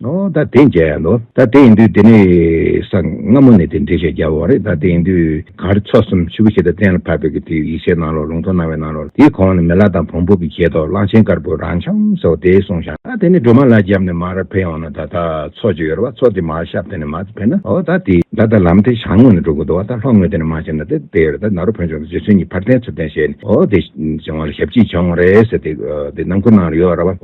ནོ། ད་དེ་མཇལ་ཡ་ལོ། ད་དེ་ཡིན་དུས་དེ་ནས་ས་སྔ་མོ་ནས་དེ་འབྲེལ་བཤད་རྒྱག་པ་བ་རེད། ད་དེ་ཡིན་དུས་གངས་རི་མཚོ་གསུམ་ཆུ་བོ་ཞེ་དག་གཏན་ལ་ཕབ་པའི་གི་དུས་ཡིག་ཆའི་ནང་ལོག་ལུང་ཐོག་སྣང་བའི་ནང་ལོག་དེའི་གོང་ནས་མེ་ལ་དང་བོང་བུ་གི་གྱེས་ཐོག་གླང་ཆེན་དཀར་པོ་རང་འཁྱམ་ཟེར་བ་དེ་སོང་ཞག་ད་དེ་ནས་སྒྲོལ་མ་ལ་རྒྱབ་ནས་མར་ཕེབས་ཡོང་ན་ད་ད་ཚོགས་ཅིག་ཡོད་རེད་བ་ཚོགས་དེ་མར་ཤབ་དེ་ནས་མར་ཕེབས་ན་ཨོ་ད་དེ་ད་ད་ལམ་དེ་ཞང་ངོས་ནས་འགྲོ་དགོས་འདུག་བ་ད་ལྷོ་ངོས་དེ་ནས་མར་ཕྱིན་ན་དེ་དེ་ཡོད་རེད་ད་ནཱ་རོ་བོན་ཆུང་དང་རྗེ་བཙུན་གཉིས་ཕར་འཐེན་ཚུར་འཐེན་བྱས་ནས་ཨོ་དེ་བྱུང་བ་ལ་ཞབས་ཅིག་བྱུང་རེད་ཟེར་དེ་དེ་ནང་ཁུལ་ནང་ལ་ཡོད་རེད་བ།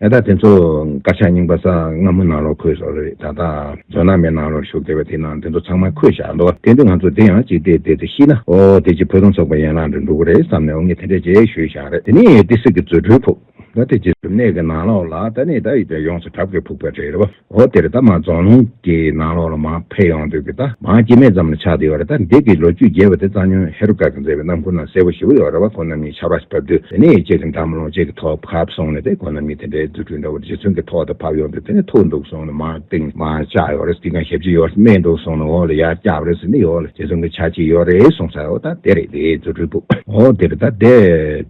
ཨེ་ད་དེ་ཚོ་དཀར་ཆག་རྙིང་པ་ས་སྔ་མོ་ནང་ལོག་འཁོད་སོགས་རེད་ད་ལྟ་ཇོ་ནང་མའི་ནང་ལོག་བཞུགས་བསྡད་པ་དེ་ནང་དེ་ཚོ་ཚང་མ་འཁོད་བཞག་འདུག་དེ་འདི་ང་ཚོ་དེ་ཡང་ཅིག་བལྟས་བལྟས་ཚེ་ཤི་ན་ཨོ་དེ་ཅིག་བོད་དོན་ཚོགས་པའི་ཡན་ལག་འདྲ་འདུག་གོ་རེད་བསམ་ནས་འོ་ངས་དེ་འདྲས་རྗེས་ཤོད་བཞག་རེད་དེ་ནས་ཏི་སེ་གི་རྫུ་འཕྲུལ་ཕུག་ད་དེ་རྗེས་སུ་གནས་ཀྱི་ནང་ལོག་ལ་ད་ནས་ད་ཡིད་ཀྱང་ཡོངས་སུ་དགྲ་བགེགས་ཕུག་པ་རེད་རེད་བ། འོ་དེ་རེད་ད་མ་རྫོང་ལུང་གི་ནང་ལོགས་ལ་མ་ཕེབས་ཡོང་དུས་ཀྱི་ད་མ་སྐྱེ་མེད་ཙམ་ལ་ཆགས་བསྡད་ཡོད་རེད་ད་འདི་གི་ལོ་རྒྱུས་རྒྱས་པ་དེ་རྩ་ཉོན་ཧེ་རུ་ཀ་གི་མཛད་པའི་རྣམ་འཁོར་ནང་གསལ་པོ་ཞིབ་པོ་ཡོད་རེད་བ་ཁོ་རྣམ་གཉིས་ཆར་པ་ཕབ་དུས་དེ་ནས་ཡིད་ཆེས་ཀྱི་འདམ་ལོང་གཅིག་གི་ཐོག་ཕབ་སོང་ནས་དེ་ཁོ་རྣམ་གཉིས་དེ་འདྲའི་རྫུ་འཕྲུལ་འདྲ་བོ་རྗེ་བཙུན་གི་ཐོག་ཏུ་ཕབ་ཡོང་དུས་དེ་ནས་ཐུག་འདུག་སོང་ནས་མ་གཏིང་མ་བཅག་ཡོད་རེད་འདི་གང་ཞབས་ཅིག་ཡོད་རེད་སྨྲས་འདུག་སོང་ནས་འོ་ལ་ཡར་བཀྱག་རེད་ཟེར་འདི་ཡོད་ལ་རྗེ་བཙུན་གྱི་ཆ་གཅིག་ཡོད་རེད་གསུངས་ས་འོ་ད་དེ་རེད་དེ་རྫུ་འཕྲུལ་པོ་འོ་དེ་རེད་ད་དེ།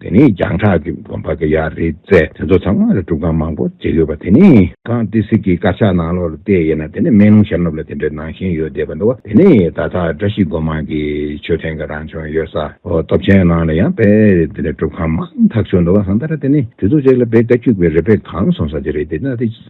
དེ་ནི་རྒྱང་གྲགས་ཀྱི་དགོན་པ་འགའ་ཡང་རེད་ཚེ་དེ་ཚོ་ཚང་མ་ལ་སྒྲུབ་ཁང་མང་པོ་བརྩིགས་ཡོད་པ་དེ་ནི། གངས་ཏི་སེ་གྱི་དཀར་ཆག་ནང་ལོགས་ལ་བལྟས་ཡོད་ན་དེ་ནི་སྨན་ལུང་ཤར་ནུབ་ལ་དེ་འདྲའི་ནང་ཞིང་ཡོད་བསྡད་པ་འདུག་བ་དེ་ནི་ད་ལྟ་བཀྲ་ཤིས་སྒོ་མང་གི་མཆོད་རྟེན་གྱི་རང་བྱོན་ཡོད་ས་སྟོབས་ཆེན་ནང་ལ་ཡང་དཔེ་དེ་འདྲའི་སྒྲུབ་ཁང་མང་དག་བྱུང་འདུག་བ་གང་ལྟར་དེ་ནི་དུས་ཚོད་ཅིག་ལ་བེ་ཀ་འཁྱུག་པའི་རི་བོའི་གངས་གསུང་ས་དེ་རེད་དེ་ལྟ་སྟེ།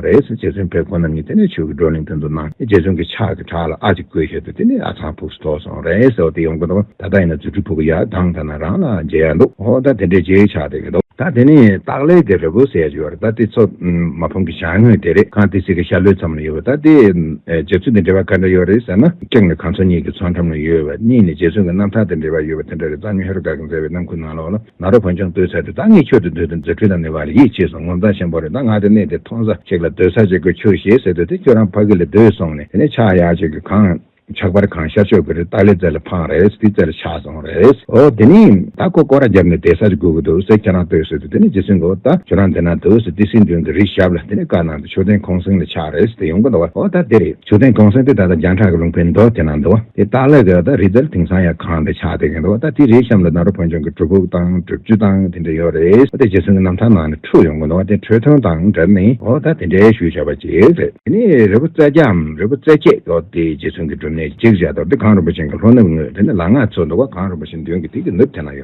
རེད། རྗེ་བཙུན་བེར་ཁོ་ནམ་ཉིད་དེ་ནས་ཆོས་ཀྱི་བགྲོ་གླེང་དོན་དུ་གནང། རྗེ་བཙུན་གྱི་ཕྱག་གི་བྲག་ལ་ཨ་ཅིག་བསྐོས་ཞེས་པས་དེ་ནས་ཨ་ཚང་ཕུགས་སུ་ཐོགས་སོང། རེད་ཟེར་བ་དེ་ཡོང་གི་འདུག་ད་ལྟ་ཡིན་ན་རྫུ་འཕྲུལ་ཕུག་གི་ཡར་ལྡང་ཐ་ན་རང་ལ་མཇལ་ཡག་འདུག་ཨོ་ད་དེ་འདྲའི་རྗེའི་ཕྱག་དེ་གི་འདུག། ད་དེ་ནི་སྟག་ལའི་དེ་རི་བོ་ཟེར་གྱི་ཡོད་རེད་ད་དེ་ཚོ་མ་ཕུང་གི་བྱང་ངོས་དེ་རེད་གང་ཏི་སི་གི་ཤར་ལྷོའི་མཚམས་ལ་ཡོད་པ་ད་དེ། རྗེ་བཙུན་དེ་འདྲ་བ་ག་འདྲ་ཡོད་རེད་ཟེར་ན། གཅིག་ནི་གངས་མཚོ་གཉིས་ཀྱི་མཚོ་འགྲམ་ལ་ཡོད་པ་གཉིས་ནི་རྗེ་བཙུན་གྱི་རྣམ་ཐར་དེ་འདྲ་བ་ཡོད་པ་དེ་འདྲ་རེད་གཙང་སྨྱོན་ཧེ་རུ་ཀ་གིས་མཛད་པའི་རྣམ་ཀུན་ནང་ལོགས་ལ། ང་རོ་བོན་ཆང་ལྟོས་ཚར་དེ་ད་ངས་ཁྱོད་དུ་སྡོད་དུ་མཛད་འཕྲིན་དང་ནི་བ་རི་ཡིག་ཅེས་སོང་ངོ་མཚང་ཞེན་པོ་རེད་ད་ང་དེ་གནས་དེ་ཐོང་ས་ཞིག་ལ་སྡོད་ས་བྱེད་དགོས་ཁྱོད་ཞེས་ཟེར་དུས་དེ་ཁྱོད་རང་ཕ་གི་ལ་སྡོད་སོང་ནས་དེ་ནས་ཕྱག་ཡར་བྱོས་ཀྱི་གང་ཕྱག་བར་གང་ཤར་བྱོས་ཀྱི་རེད་ཏཱ་ལའི་རྩེ་ལ་འཕངས་རེས་དེའི་རྩེ་ལ་ཆགས་སོང་རེས་ཨོ་དེ་ནས་ད་ཁོ་སྐོར་ར་བརྒྱབ་ནས་བསྡད་ས་ཅིག་དགོས་ཀྱི་འདུག་ཟེར་ཁྱེད་རང་ལྟོས་ཟེར་དུས་དེ་ནས་ཇི་སྲིད་འགོ་ད་ཁྱོད་རང་འདི་ན་འདུག་ཟེར་ཏི་སྲིད་མདུན་གྱི་རི་ཞབས་ལ་དེ་ནས་བཀའ་གནང་དུས་ཆོས་ལྡན་ཁོང་སེང་ལ་ཆགས་རེས་དེ་ཡོང་གི་འདུག་བ་ཨོ་ད་དེ་རེད། ཆུ་ཚན་གང་སེང་དེ་ད་ལྟ་རྒྱང་གྲགས་ཀྱི་རླུང་བུའི་མདོ་དེ་ན་འདུག་བ། དེ་སྟག་ལྷས་ཀྱི་ད་རི་རྩེར་དེང་སང་ཡང་ཁང་དེ་ཆགས་བསྡད་ཀྱི་འདུག་བ་ད་དེའི་རིའི་གཤམ་ལ་ནཱ་རོ་བོན་ཆུང་གི་སྒྲུབ་ཕུག་དང་སྒྲུབ་ཆུ་དང་དེ་འདྲ་ཡོད་རེད་བ་དེ་རྗེ་བཙུན་གྱི་རྣམ་ཐར་ནང་ནས་འཁྲུལ་ཡོང་གི་འདུག་བ་དེ་འཕྲོས་མཐུན་དང་འབྲེལ་ནས་འོ་ད་དེ་འདྲའི་ཞུ་བྱ་བ་ཅིག་རེད། དེ་ནས་རི་བོ་རྩེ་རྒྱའམ་རི་བོ་རྩེ་སྐྱེས་འོ་དེ་རྗེ་བཙུན་གྱི་སྒྲུབ་གནས་ཅིག་བྱས་འདུག་བ་དེ་གངས་རིན་པོ་ཆེན་གྱི་ལྷོ་ནུབ་ངོས་དེ་ནས་ལ་ང་ཚུད་འདུག་བ་གངས་རིན་པོ་ཆེན་མདུན་གྱི་དེ་གི་ནུབ་དེ་ན་ཡོད།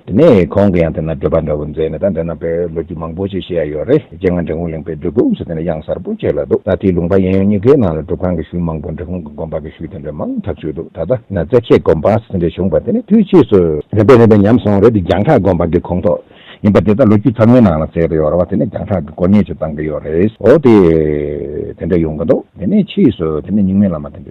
དེ་ནས་གོང་གི་ཡང་དེ་ན་བགྲོད་པ་འདྲ་བོ་མཛད་ནས་ད་འདི་ན་བོད་ལོ་རྒྱུས་མང་པོ་ཞིག་ཤེས་ཡ་ཡོད་རེད་རྗེ་སྔ་འབྲི་གུང་གླིང་པའི་སྒྲུབ་ཁུངས་སུ་དེ་ནས་གཡང་གཟར་པོ་བྱས་ལ་འདུག་ད་དེའི་ལུང་པ་གཡས་གཡོན་གཉིས་ཀའི་ནང་ལ་སྒྲུབ་ཁང་གི་ཤུལ་མང་པོ་འབྲི་གུང་གི་དགོན་པ་གི་ཤུལ་དེ་འདྲ་མང་དག་བཞུགས་འདུག་ད་ལྟ་ན་རྩེ་ཁྱེད་དགོན་པ་སོ་འདྲའི་བྱུང་བ་དེ་ནི་དུས་ཕྱིས་སུ་རིམ་པས་རིམ་པས་ཉམས་སོང་རེད་འདི་རྒྱང་གྲགས་དགོན་པ་གི་ཁོངས་གཏོགས་ཡིན་པ་དེ་ད་ལོ་རྒྱུས་ཚང་མའི་ནང་ལ་གསལ་དུ་ཡོད་ར་བ་དེ་ནས་རྒྱང་གྲགས་གི་དཀོར་གཉེར་ཅིག་བཏང་གི་ཡོད་རེད་འོ་དེ་དེ་འདྲ་ཡོང་གི་འདུག་དེ་ནས་ཕྱིས་སུ་དེ་ནས་རྙིང་མའི་བླ་མ་དེ་འདྲ།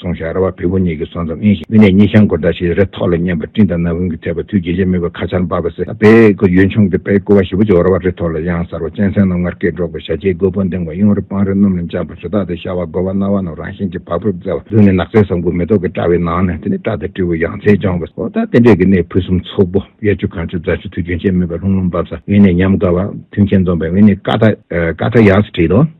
སོང་ཞིག་ཨ་ར་བ་བུ་བུ་གཉིས་ཀྱི་སོང་ཙམ་ཨེ་ཤིག་མི་ནས་གཉིད་ཤང་སྒོར་ཟླ་ཞིག་རེ་ཐོག་ལ་མཉན་པ་སྤྲིན་དང་ནམ་ཧུན་གྱི་ཐེག་པ་དུས་རྒྱུན་ཆད་མེད་པར་ཁ་ཆར་འབབ་པ་ཟེར་ཨ་ཕའི་སྐུ་ཡོན་ཆུང་གི་དཔལ་སྐུ་བ་ཞི་བོ་ཅིག་ཨོ་ར་བ་རེ་ཐོག་ལ་གཡང་གཟར་བ་གཅན་གཟན་རྣམས་ངར་སྐད་སྒྲོག་པའི་ཞལ་ལྕེའི་མགོ་བོ་འདེང་བ་གཡུང་རི་སྤང་རི་སྣུམ་ལ་འཇམ་པོ་ཞོ་དག་དེ་ཤ་བ་སྒོ་བ་རྣ་བ་རྣམས་རང་བཞིན་གྱིས་བག་ཕེབས་མཛད་པ་ལུས་ནི་ནགས་ཚལ་ཟམ་ཁུག་མེ་ཏོག་གི་བཀྲ་བའི་ནང་ནས་དེ་ནི་བཀྲ་དང་སྤྲེའུ་ཡང་རྩལ་སྦྱོང་བ་ཟོ་ལྟ་རྟེན་འབྲེལ་གྱི་གནས་ཕུན་སུམ་ཚོགས་པོ་གཡས་ཆུ་གངས་ཆུ་རྫ་ཆུ་དུས་རྒྱུན་ཆད་མེད་པར་ལྷུང་ལྷུང་འབབ་ས་དབེན་གནས་ཉམས་དགའ་བ་མཐུན་རྐྱེན་འཛོམས་པའི་དབེན་གནས་ཀ་ཐ་ཡགས་སུ་བྲིས་ཏོ།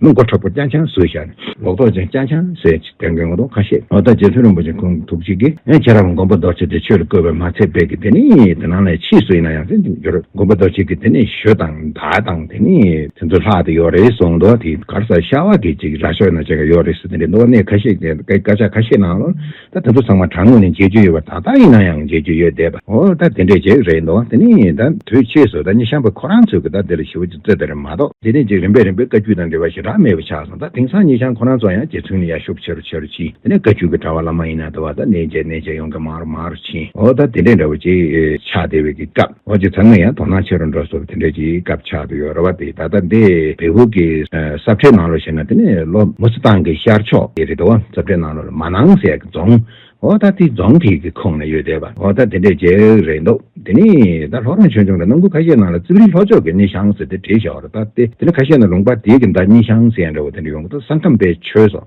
ལོ་མགོ་དྲག་པོ་སྐྱ་ཆང་ཟོས་བཞག་ནས་ལོག་རྟོག་ཅན་སྐྱ་ཆང་ཟས་ཀྱི་དོན་གྱི་ངོ་གདོང་ཁ་ཤས་ཨོ་ད་རྗེ་བཙུན་རིན་པོ་ཆེ་ཁོང་ཐུགས་གཅིག་གིས་ཨེ་ཁྱེད་རང་མགོན་པོ་རྡོ་རྗེ་དེ་ཆོས་ལ་བསྐོས་པའི་མ་ཚད་དཔེ་གི་དེ་ནི་དེ་ནང་ལས་ཕྱིས་སུ་ཡིན་ན་ཡང་ཚད་འཇུག་འགྱུར་མགོན་པོ་རྡོ་རྗེ་གི་དེ་ནི་ཞོ་དང་དར་དང་དེ་ནི་དེ་ཚོ་ལྷག་དེ་ཡོད་རེད་སོང་འདུག་དེ་གར་ས་ཤ་བ་གི་ཅིག་ར་ཤོད་ན་ཅིག་ཡོད་རེད་ཟེར་དེ་འདྲའི་འདུག་གནས་ཁ་ཤས་ཀྱི་སྐད་ཆ་ཁ་ཤས་ནང་ལོ། ད་ད་དུ་ཚང་མ་དྲ་ངོས་ནས་མཇལ་རྒྱུ་ཡོད་པ་ད་ལྟ་ཡིན་ན་ཡང་མཇལ་རྒྱུ་ཡོད་བསྡད་པ་འོ་ད་དེ་འདྲས་ཅིག་རེད་འདུག་དེ་ནི་ད་དུས་ཕྱིས་སུ་ད་ཉི་ཤམ་པོ་ཁོ་རང་ཚོས་ཀྱི་ད་དེ་ལ་ཞིབ་ཅིག་རྩོད་དེ་རེད་མ་གཏོགས་དེ་ནས་ཅིག་རིམ་པས་རིམ་པས་བཀའ་བརྒྱུད་དང་འབྲེལ་བ་ཞེ་དྲག་མེད་པ་ཆགས་སོང་ད་དེང་སང་ཉི་ཤམ་ཁོ་རང་ཚོ་ཡང་རྗེ་བཙུན་ནས་ཡར་ཤུགས་ཆེ་རུ་ཆེ་རུ་ཕྱིན་དེ་ནས་བཀའ་བརྒྱུད་ཀྱི་དྲ་བ་ལ་མ་ཡིན་ན་ད་བར་ད་གནས་མཇལ་གནས་མཇལ་ཡོང་མཁན་མང་རུ་མང་རུ་ཕྱིན་འོ་ད་དེ་འདྲས་འདྲ་བོ་ཅིག་ཆགས་བསྡད་པའི་སྐབས། ཁོང་གི་ཚ་ངུ་ཡང་དོ་སྣང་ཆེ་རུ་འགྲོ་སོགས་དེ་འདྲའི་ཀྱི་སྐབས་ཆགས་འདུག་ཡོད་རེད་བ་དེ་ད་ལྟ་འདི་བལ་བོད་ཀྱི་གསར་ཁྲའི་ནང་ལོ་ཞེ་ན་དེ་ནི་ལོ་མུ་སི་ཐང་གི་ཤར་ཕྱོགས་ཀྱི་རི་དྭོགས་གསར་ཁྲའི་ནང་ལོ་ལ་མ་ནང་ཟས་ཀྱི་རྫོང་འོ་ད་དེ་རྫོང་དེ་ཀྱི་ཁོངས་ནས་ཡོད་དེ་བ་འོ་ད་དེ་འདྲའི་རྒྱལ་རེད་འདུག་དེ་ནི་ད་ལྷོ་རོང་ཆོས་འབྱུང་གི་ནང་ཁུལ་ཁ་ཤས་ནང་ལ་རྩིབ་རིའི་ལྷོ་ཕྱོགས་ཀྱི་གནས་ཤང་ཟེར་དེ་བྲིས་བཞག་རེད་ད་དེ་ནི་ཁ་ཤས་ནང་ལུང་པ་དེ་ཀྱི་མདའ་གཉིས་ཤང་ཟེར་ཡང་འདྲ་བ་དེ་འདྲ་ཡོང་གི་འདུག་ས་ཁམས་པའི་ཆོས་སོ།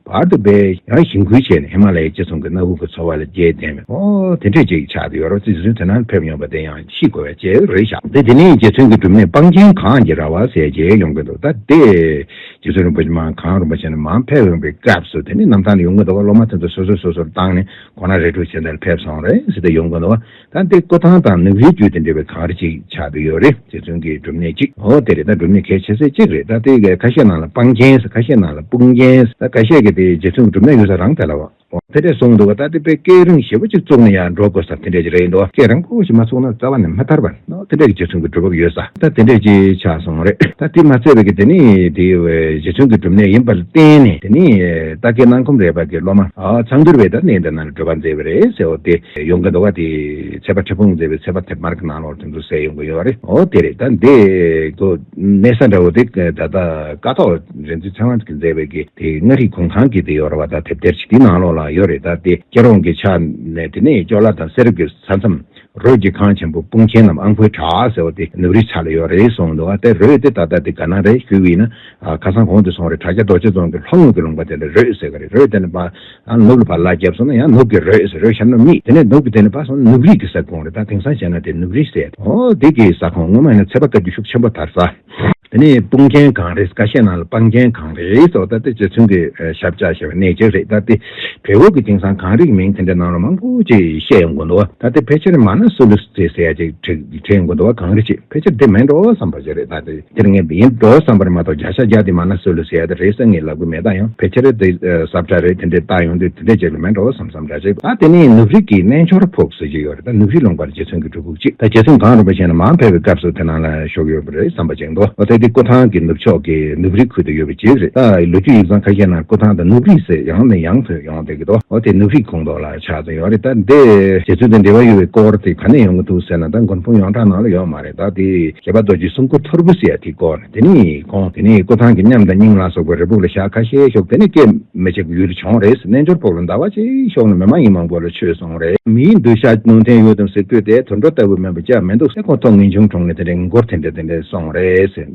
བར་དུ་སྦས། ཡང་ཞིང་ཁུལ་བྱས་ནས་ཧི་མ་ལ་ཡའི་སྤྱི་ཚོང་གི་གནའ་བོའི་གོས་འཚོ་བ་ལ་རྒྱས་བསྡད་མོད། ཨོ། དེ་འདྲས་ཅིག་ཆགས་ཏེ་ཡོ་རོབ་རྩིས་ཟིན་དུས་ནང་ཕེབས་ཡོང་བ་དེ་ཡང་ཤི་དགོས་པའི་རྗེས་རེད་བཞག། དེ་དེ་ནས་རྗེ་བཙུན་གྱི་སྒྲུབ་གནས་སྤང་རྒྱན་གང་གི་ར་བ་ཟས་བརྒྱད་ཡོང་གི་འདུག་ད་ལྟའི། རྗེ་བཙུན་རིན་པོ་ཆེ་མང་གང་རིན་པོ་ཆེ་ནས་མང་ཕེབས་ཡོང་པའི་སྐབས་སུ་དེ་ནས་གནམ་ཐང་ནས་ཡོང་གི་འདུག་སློབ་མ་དེ་ཚོ་སོ་སོས་སོ་སོར་བཏང་ནས་གོང་ན་རས་ཕྲུག་བྱས་འདི་ལ་ཕེབས་སོང་རེད་ཟེར་ཏེ་ཡོང་གི་འདུག། ད་འདི་བསྐོ་ཐང་དང་ནག་རིལ་རྒྱུད་དེ་འབྲེལ་བའི་ཐང་རེ་ཅིག་ཆགས་ཀྱི་ཡོད་རེད་རྗེ་བཙུན་གྱི་སྒྲུབ་གནས་ཅིག་འོ་དེ་རེད་ད་སྒྲུབ་གནས་གལ་ཆེ་ས་ཅིག་རེད་ད་དེ་ག་ཁ་ཤས་ནང་ལ་སྤང་རྒྱན་ས་ཁ་ཤས་ནང་ལ་སྤུང་རྒྱན་ས་ཁ་ཤས་ཀྱི་དེ་རྗེ་བཙུན་གྱི་སྒྲུབ་གནས་ཡོད་ས་རང་དེ་ལ་བ་དེ་འདྲས་གསུངས་འདུག་ད་དེ་དཔེ་སྐད་རིང་ཞེ་བོ་ཅིག་བཙུགས་ནས་ཡང་འགྲོ་དགོས་ས་དེ་འདྲས་ཅིག་རེད་འདུག་སྐད་རིང་པོ་ཞིག་མ་བཙུགས་ན་རྩ་བ་ནས་མ་ཐར་བ་འདུག་དེ་འདྲས་ཀྱི་རྗེ་བཙུན་གྱི་སྒྲུབ་བབ་ཡོད་ས་ད་དེ་འདྲས་ཅིག་ཆགས་སོང་བ་རེད་ད་དེ་མ་ཚད་པའི་གི་དེ་ནི་དེ་རྗེ་བཙུན་གྱི་སྒྲུབ་གནས་ཡིན་པ་ལ་བརྟེན་ནས་དེ་ནི་རྟ་སྐད་སྣང་ཁོམ་རེད་པ་གི་སློབ་མ་ཚང་དུར་བས་ད་གནས་འདི་ན་འགྲོ་བ་མཛད་བ་རེད་ཟེར་འོ་དེ། ཟས་ཡོང་གི་འདུག་དེ་ཚད་པ་ཁྲི་སྤུངས་མཛེས་པའི་ཚད་པ་དེབ་དམར་གྱི་ནང་ལོགས་དེ་ཚོ་ཟས་ཡོང་གི་ཡོད་རེད། འོ་དེ་རེད་ད་འདི་གོ། གནས་ས་འདྲ་བོ་དེ་ད་ལྟ་ཀ་ཐོག་རེད་འདུག་ཚན་རིག་གི་མཛེས་པའི་གི་དེ་མངའ་རིས་གུང་ཁང་གི་དེ་ཡོད་རེད་བ་ད་དེབ་ཐེར་ཞིག་དེའི་ནང་ལོགས་ལ་ཡོད་རེད་ད་དེ་སྐྱེ་རོང་གི་ཆ་ནས་དེ་ནས་ཅོ་ལ་དང་གསེར་རུབ་ཀྱི་ས་མཚམས་རོལ་གྱི་ཁང་ཆེན་པོ་སྤུངས་ཆེན་ནམ་ཨང་ཕོའི་བྲག་ཟེར་བ་དེ་ནུབ་རིའི་ཆ་ལ་ཡོད་རེད་གསུངས་འདུག་དེ་རོལ་དེ་ད་ལྟ་དེ་ག་ན་རེད་ཞུས་བས་ན་ཁ་སང་གོང་དུ་སོང་རེད་བྲག་སྐྱ་རྡོ་རྗེ་རྫོང་གི་ལྷོ་ངོས་ཀྱི་ལུང་པ་དེ་ལ་རོལ་ཟེར་གི་རེད་རོལ་དེ་ནས་པ། ཡང་ནུབ་ལ་བར་ལག་བརྒྱབ་སོང་ན་ཡང་ནུབ་ཀྱི་རོས་ཟེར་རོས་ཞབས་ནུབ་གཉིས་དེ་ནས་ནུབ་ཀྱི་དེ་ནས་བར་སོང་ན་ནུབ་རིས་ཀྱི་ས་ཁོངས་རེད་ད་དེང་སང་བྱས་ན་དེ་ནུབ་རིས་ཟེར་ཡ། ཨོ་དེ་གི་ས་ཁོངས་སྔོན་མ་ཡིན་ན་ཚད་པ་བཀའ་རྒྱུད་ཤུགས་ཆེན་པོ་དར་ས། དེ་ནས་དཔུང་རྒྱན་གང་རེད་བཀའ་ཤག་ནང་ལ་དཔང་རྒྱན་གང་རེད་སོགས་ད་དེ་རྗེ་བཙུན་གྱི་ཞབས་བཅག་ཞེས་པ་གནས་གཅིག་རེད་ད་དེ་བལ་བོད་ཀྱི་དེང་སང་གང་རིགས་མིང་དེ་འདྲ་ནང་ལ་མང་པོ་ཅིག་བཤད་ཡོང་དགོས་འདུག་བ་ད་དེ་ཕལ་ཆེར་མ་ན་སུ་ལུས་ཙི་ཟེར་ཡ་ཅིག་བྲིས་ཡོང་དགོས་འདུག་བ་གང་རིགས་ཅིག་ཕལ་ཆེར་དེ་མིན་འགྲོ་བསམ་པ་ཞིག་རེད་ད་དེ། དེར་ངས་འདི་ཡིན་འགྲོ་བསམ་པར་མ་གཏོགས་བརྒྱ་ཆ་བརྒྱ་དེ་མ་ན་སུ་ལས་ཟེར་ཡག་དེ་རེད་བསམ་ངེས་ལབ་གི་མེད་ད་ཡང་ཕལ་ཆེར་དེ་ཟབ་ཆ་རེད་དེ་འདྲས་བཏགས་ཡོང་དུས་དེ་འདྲས་བྱེད་གི་མེད་འགྲོ་བསམ་བསམ་འདྲ་བྱེད། ད་དེ་ནས་ནུབ་རིགས་ཀྱི་གནས་མཆོག་ར་ཕོག་ཟེར་གྱི་ཡོད་རེད་ད་ནུབ་རིགས་ལུང་པར་རྗེ་བཙུན་གྱི་སྒྲུབ་ཕུག་ཅིག་ད་རྗེ་བཙུན་གང་རུང་བ་གཞན་ལ་མ་ཕེབས་པའི་སྐབས་སུ་དེ་ནང་ལ་ཞོག་ཡོད་པ་རེད་བསམ་པ་ཅིག་འདུག་ད་དེ་སྐུ་ཐང་གི་ནུབ་ཕྱོགས་ཀྱི་ནུབ་རིགས་ཁུལ་དུ་ཡོད་པ་ཅིག་རེད་ད་ལོ་རྒྱུས་ཡིག་ཚང་ཁ་ཤས་ནང་སྐུ་ཐང་དང་ནུབ་རིགས་ཟེར་ཡང་ནས་ཡང་ཐོན་ཡོང་བསྡད་གི་འདུག་དེ་ནུབ་རིགས་ཁོངས་གཏོགས་ལ་ཆགས་ཚུལ་ཡོད་རེད་ད་དེ་རྗེ་བཙུན་དང་འབྲེལ་བ་ཡོད་པའི་སྐོར་དེ་ག་ནས་ཡོང་གི་འདུག་ཟེར་ན་ད་མགོན་དཔུང་ཡོངས་གྲགས་ནང་ལ་ཡོད་མ་རེད། བདག་དེས་བྱེད་པ་རྡོ་རྗེ་གསུམ་སྐུ་ཐོར་བུ་ཟེར་ཡ་དེ་བསྐོར་དེ་ནས་ཁོང་དེ་ནས་སྐུ་ཐང་གི་མཉམ་དང་སྙིང་ལ་སོགས་པའི་རི་བུག་ལ་ཞག་ཁ་ཤས་ཞོག་དེ་ནས་སྐད་མི་ཆེ་གུ་ཡུ་རུ་བྱོང་རེས་རྣལ་འབྱོར་ཕོག་ལ་ཟླ་བ་གཅིག་ཞོག་ན་མི་མ་ཡིན་མང་པོ་ལ་ཆོས་གསུངས་རེས། མིའི་འདུ་ཤ་ནོར་འཐེན་ཡོད་དམ་ཟེར་དུས་དེ་དུར་འགྲོ་ལྟ་བུ་མིན་པ་ཅག་མི་འདུག་སེ་ཁོང་ཐོག་ངེས་འབྱུང་གྲོངས་ནས་དེ་འདྲའི་མགོ་འཁོར་ཐེངས་འདྲ་དེ་འདྲ་སོང་རེས།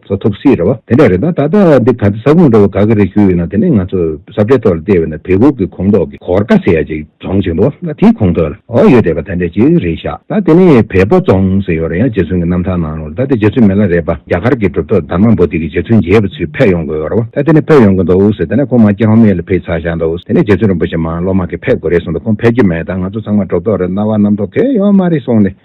ཚོ་ཐུབ་སྲིད་རེད་བ། དེ་འདྲ་རེད་ད། ད་ལྟ་འདི་ག་ཚོད་ས་ཁུངས་འགྲོ་བའི་དགའ་གི་རེད་ཞུ་ཡོད་ན་དེ་ནས་ང་ཚོ་ས་བྲེ་ཐོག་ལ་བལྟས་བས་ན་བལ་བུ་གི་ཁོངས་གཏོགས་ཀྱི་གོར་ཀ་ཟེར་ཡ་ཅིག་རྫོང་ཆེན་པོ་ན་དེའི་ཁོངས་གཏོགས་ལ་འོག་ཡོད་རེད་བ་ད་འདྲ་ཅིག་རེད་ཤག་ད་དེ་ནས་བལ་བོ་རྫོང་ཟེར་ཡོད་རེད་ཡ་རྗེ་བཙུན་གི་རྣམ་ཐར་ནང་རུང་ད་དེ་རྗེ་བཙུན་མེད་ལ་རེད་བ་རྒྱ་གར་གི་གྲུབ་ཐོབ་དར་མ་འབོ་ཏི་གི་རྗེ་བཙུན་མཇལ་བ་ཚུལ་ཕེབས་ཡོང་དགོས་ཡོད་རེད་བ་ད་དེ་ནས་ཕེབས་ཡོང་གི་འདུག་ཟེར་ད་ནས་ཁོང་མ་སྐྱེ་ཧོམ་ཡས་ལ་ཕེབས་ཚར་བཞག་འདུག་དེ་ནས་རྗེ་བཙུན་རིན་པོ་ཆེ་མ་བློ་མ་ཁེ་ཕེབས་དགོས་རེད་གསུངས་འདུག་ཁོང་ཕེབས་ཀྱི་མེད་ད་ང་ཚོ་ཚང་མ་གྲུབ་ཐོབ་རེད་གནང་བ་རྣམ་ཐོག་གེ་ཡོད་མ་རེད་གསུངས་ནས།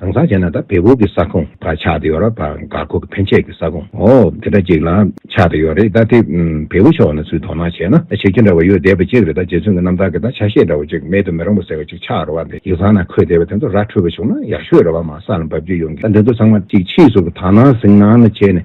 དྭངས་གཙང་བྱས་ན་ད་བལ་བོ་གི་ས་ཁོངས་དང་ཆགས་ཏེ་ཡོད་ར་བར་འགག་སྒོ་གི་ཕན་ཆད་ཀྱི་ས་ཁོངས་འོ་དེ་འདྲ་ཅིག་ལ་ཆགས་ཏེ་ཡོད་རེད་ད་དེ་བལ་བོ་ཕྱོགས་ན་ཚུལ་དོགས་སྣང་བྱས་ན་ད་བྱེད་རྒྱུ་འདྲ་བ་ཡོད་བསྡད་པ་ཅིག་རེད་ད་རྗེ་བཙུན་གྱི་རྣམ་ཐར་གྱི་ད་ཆ་ཤེས་འདྲ་བ་ཅིག་མེད་དུ་མི་རུང་བ་ཟེར་བ་ཅིག་ཆགས་ར་བ་འདི་ཡིག་ཚང་ན་འཁོད་བསྡད་པ་དེ་ཚོ་ར་འཕྲོད་པ་བྱུང་ན་ཡག་ཤོས་རེད་བ་མ་ས་ལ་འབབ་རྒྱུ་ཡོང་གི་ད་འདི་ཚོ་ཚང་མ་ཅིག་ཕྱིས་སུ་བ་ད་ནང་ཟིང་ནང་ན་བྱས་ནས་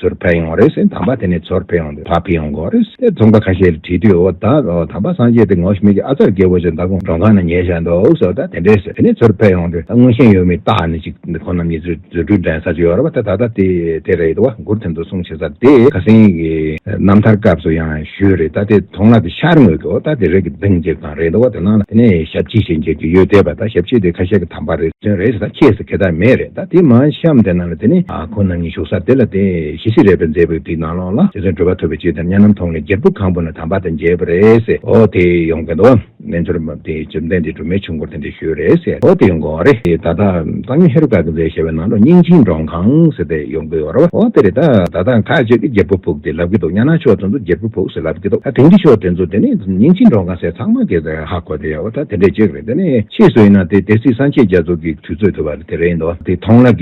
ཟུར་ཕེབས་ཡོང་བ་རེད་ཟེར་དམ་པ་དེ་ནས་ཟུར་ཕེབས་ཡོང་དུས་ཕ་ཕི་ཡོང་དགོས་རེད་ཟེར་ཚོང་པ་ཁ་ཤས་ལ་དྲིས་དུས་འོ་ད་དམ་པ་སངས་རྒྱས་དེ་ངོ་ཤེས་མི་གི་ཨ་ཙར་རྒྱལ་པོ་ཆེ་མདའ་དགོང་མགྲོན་ཁང་ན་ཉལ་བཞག་འདུག་ཟེར་བ་ལྟར་དེ་འདྲས་ཟེར་དེ་ནས་ཟུར་ཕེབས་ཡོང་དུས་ད་དངོས་ཤེས་ཡོད་མེད་བརྟག་ནས་ཅིག་ཁོ་རྣམ་གཉིས་ཚོའི་རྫུ་འཕྲུལ་འགྲན་ས་ཅིག་ཡོད་རེད་བ་ད་ད་ལྟ་དེ་རེད་བ་མགུར་དེ་ཚོ་གསུང་བྱེད་ས་དེ་ཁ་སེང་གི་རྣམ་ཐར་སྐབས་སུ་ཡང་ཞུས་རེད་ད་དེ་ཐོང་ལ་དེ་ཤར་ངོས་ཀྱི་འོ་ད་དེ་རེད་ཀྱི་གདིང་བཅིབས་སྟངས་རེད་འདུག་བ་དེ་ནང་ལ་དེ་ནས་ཞབས་ཕྱི་ཞིག་འཇལ་རྒྱུ་ཡོད་དེ་བ་ད་ཞབས་ཕྱི་དེ་ཁ་ཤས་ཀྱི་དམ་པ་རེད་ཟེར་རེད་ཟེར་ད་ཁྱེད་ཟེར་ཁེ་ད་མེད་རེད་ད་དེ་མ་བཤམས་དེ་ནང་ལ་དེ་ནས་ཁོ་རྣམས་ཉིད་བཞུགས་ས་དེ་ལ་དེ་བཞིན་གཤེགས་རེག་པའི་མཛད་པའི་དུས་ནང་ལོགས་ལ་དེ་ཚོའི་འགྲོ་བ་ཐོབ་པའི་ཕྱིར་དམ་ཉམས་རྣམས་མཐོང་ནས་རྒྱལ་པོ་གང་པོ་ན་དམ་པ་དང་མཇལ་བ་རེད། ཨོ་དེ་ཡོང་དགོས་འདུག་བ། རྣལ་འབྱོར་མ་དེ་བཅོམ་ལྡན་འདས་སྒྲོལ་མའི་ཆུ་འཁོར་དེ་འདྲས་ཞུས་རེད། ཨོ་དེ་ཡོང་དགོས་བ་རེད། ད་ལྟ། གཙང་སྨྱོན་ཧེ་རུ་ཀ་གི་མཛད་ཞེས་པའི་ནང་ལོགས་སྙིང་ཆིངས་འབྲོང་ཁང་ཟེར་དེ་ཡོང་དགོས་བ་རེད། ཨོ་དེ་རེད་ད། ད་ལྟ་ཁ་ཅིག་གིས་རྒྱལ་པོ་ཕུག་དེ་ལབ་ཀྱི་འདུག་གཉའ་ནང་ཕྱོགས་དེ་ཚོ་རྒྱལ་པོའི་ཕུག་ཟེར་ལབ་ཀྱི་འདུག་ད་དེང་འདི་ཕྱོགས་དེ་ཚོ་དེ་ནི་སྙིང་ཆིངས་འབྲོང་ཁང་ཟེར་ཚང་མ་གིས་ཧ་གོ་དེ་ཡོད་བ་ད་དེ་འདྲས་ཅིག། དེ་ནས་ཕྱིས་སུ་ཡིན་ན་དེ་དེ་སྲིད་སངས་རྒྱས་རྒྱ་མཚོ་གི་དུས་ཚོད་ཐོས་པ་དེ་རེད་འདོད་དེ་མཐོང་ལགས་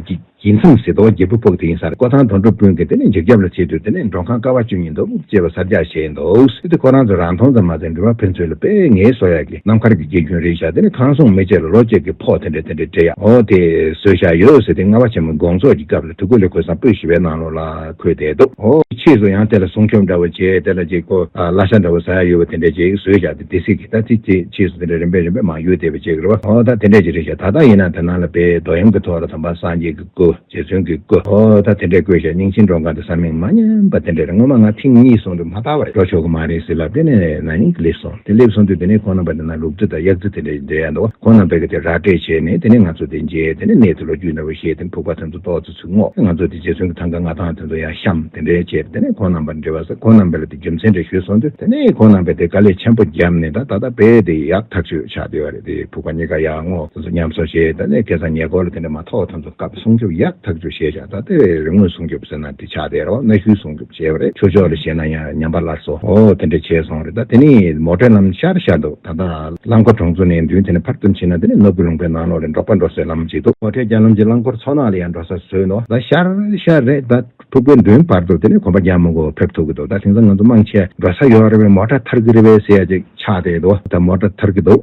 ཀྱི། དགྱེས་མཚམས་སེ་ཏོག་རྒྱལ་པོ་ཕོག་དེ་ཡིན་སར་ཀོ་ཐང་དོ་འགྲོ་སྤུན་གྱི་དེ་ནས་འཇིག་རྒྱབ་ལ་ཆས་དུས་དེ་ནས་མགྲོན་ཁང་ཀ་བ་བཅུ་གཉིས་འདུག་ཅེས་པ་སར་རྒྱག་བྱས་འདུག་དེ་དུས་ཁོ་རང་ཚོ་རང་མཐོང་ཙམ་མ་ཟད་འགྲུལ་བ་ཕན་ཚུན་ལ་དཔེ་ངའི་བཟོ་ཡག་གི་ནམ་མཁར་གྱི་དགེ་རྒྱུན་རེད་བཞག་དེ་ནས་ཁང་སྲུང་མི་བཅས་ལ་ལོ་གཅིག་གི་ཕོགས་དེ་འདྲ་དེ་འདྲ་སྤྲད་ཡག་འོ་དེ་བཟོས་བཞག་ཡོད་ཟེར་དེ་རྔ་བ་ཆེན་མོའི་དགོང་ཚོགས་ཀྱི་སྐབས་ལ་དུས་ཀུ་ལེ་ཁོས་སང་སྤོས་ཞི་བའི་ནང་ལོགས་ལ་ཁུར་བསྡད་འདུག་འོ། ཕྱིས་སུ་ཡང་དེ་ལ་སྲུང་སྐྱོབ་འདྲ་བོ་བྱས་དེ་ལ་གཅིག་ཀོ་ལ་ཤ་འདྲ་བོ་བཟའ་ཡག་ཡོད་པ་དེ་འདྲ་ཅིག་བཟོས་བཞག་སྡེ་སྲིད་ཀྱི་ལྟ་ཚིག་བཅས་ཕྱིས་སུ་དེ་འདྲ་རིམ་པས་རིམ་པས་མང་གཡུག་བསྡད་པའི་རྗེས་ཀྱི་རེ་བ་ཧོ་ད་དེ་འདྲས་ཀྱི་རེད་བྱས་ད་ལྟ་ཡིན་ན་བོད་ནང་ལ་དཔེའི་རྡོ་གཡམ་གྱི་ཐོག་ལ་དམ་པ་སངས་རྒྱས་ཀྱི་སྐུ་རྗེ་བཙུན་གྱི་སྐུ་ཧོ་ད་དེ་འདྲས་བཀོད་བྱས་རྙིང་ཆེན་འབྲོང་ག་འདི་ས་མིང་མ་ཉམས་པ་དེ་འདྲས་རེད་ངོ་མ་ང་ཐེངས་གཉིས་སོང་དུས་མ་ལྟ་བ་རེད་འགྲོ་ཆོག་གི་མ་རེད་ཟེར་ལབ་དེ་ནས་ན་ནིང་གི་སླེབས་སོང་དེ་སླེབས་སོང་དུས་དེ་ནས་ཁོང་རྣམ་པ་དེ་ན་ལུག་རྫི་དང་གཡག་རྫི་དེ་འདྲས་འདྲེས་ཡ་འདུག་ཁོང་རྣམ་པས་གི་དེ་ར་སྤྲད་བྱས་ནས་དེ་ནས་ང་ཚོ་དེ་མཇལ་དེ་ནས་ནས་དེ་ལོ་རྒྱུས་འདྲ་བོ་བཤད་དེ་ཕུག་པ་ཐོན་དུ་གཏོགས། ཟུག་རྔུ། ང་ཚོ་དེ་རྗེ་བཙུན་གྱི་ཐང་ག་ལྔ་དང་དེ་ཚོ་ཡར་བཤམས་དེ་འདྲའི་བྱས་དེ་ནས་ཁོང་རྣམ་པར་འབྲེལ་བ་ཟེར་ཁོང་རྣམ་པས་ལ་དེ་རྒྱུ་མཚན་འདྲ་ཞུས་སོང་དུས་དེ་ནས་ཁོང་རྣམ་པས་དེ་དཀའ་ལས་ཆེན་པོ་བརྒྱབ་ནས་ད་ད་ལྟ་བས་དེ་ཡག་ཐག་ཆོད་ཆགས་བསྡད་པ་རེད་དེ་ཕུག་པ་གཉིས་ཀ་ཡག་ངོ་དེ་ཚོ་ཉམས་གསོ་བྱས་དེ་ནས་སྐལ་བཟང་ཉེ་སྐོར་ལ་དེ་འདྲ་མ་ཐོག་ད་ཚོ་སྐབས་སྲུང་སྐྱོབ་ཡག་ཐག་ཆོད་བྱས་ཆགས་ད་ལྟ་བས་རི་ངོས་སྲུང་སྐྱོབ་ཟེར་ན་དེ་ཆགས་བསྡད་རོགས་གནའ་ཤུལ་སྲུང་སྐྱོབ། བྱས་པ་རེད་ཆོས་ཕྱོགས་ལ་བཤད་ན་ཡང་ཉམས་པ་སླར་སོ་འོ་དེ་འདྲ་བྱས་སོང་རེད་ད་དེ་ནི་མོ་དྲོད་ལམ་ཤར་ཤར་འདུག་ད་ལྟ་རླངས་འཁོར་གྲོང་ཚོ་ནས་མདུན་དེ་ནས་ཕར་ཙམ་ཕྱིན་ན་དེ་ནི་ནོར་བུ་ལུང་པའི་ནང་ལོགས་ལས་འབྲོག་པ་འགྲོ་སའི་ལམ་ཞིག་འདུག་མོ་དྲོད་རྒྱ་ལམ་གྱི་རླངས་འཁོར་ཚོགས་ནང་ལ་ཡང་འགྲོ་ས་བཟོས་འདུག་ད་ཤར་ཤར་རེད་ད་ཕྲུག་གུའི་མདུན་བར་དུ་དེ་ནས་གོམ་པ་རྒྱག་མོ་གོ་ཕེབས་ཐུབ་ཀྱི་འདུག་ད་དེང་སང་ང་ཚོ་དམངས་ཆས་འགྲོ་ས་ཡོད་རེད་བས་མོ་དྲ་ཐར་གྱི་རེད་བས་ཟེར་ཡ་ཅིག་ཆགས་བསྡད་འདུག་ད་མོ་དྲ་ཐར་གྱི་འདུག།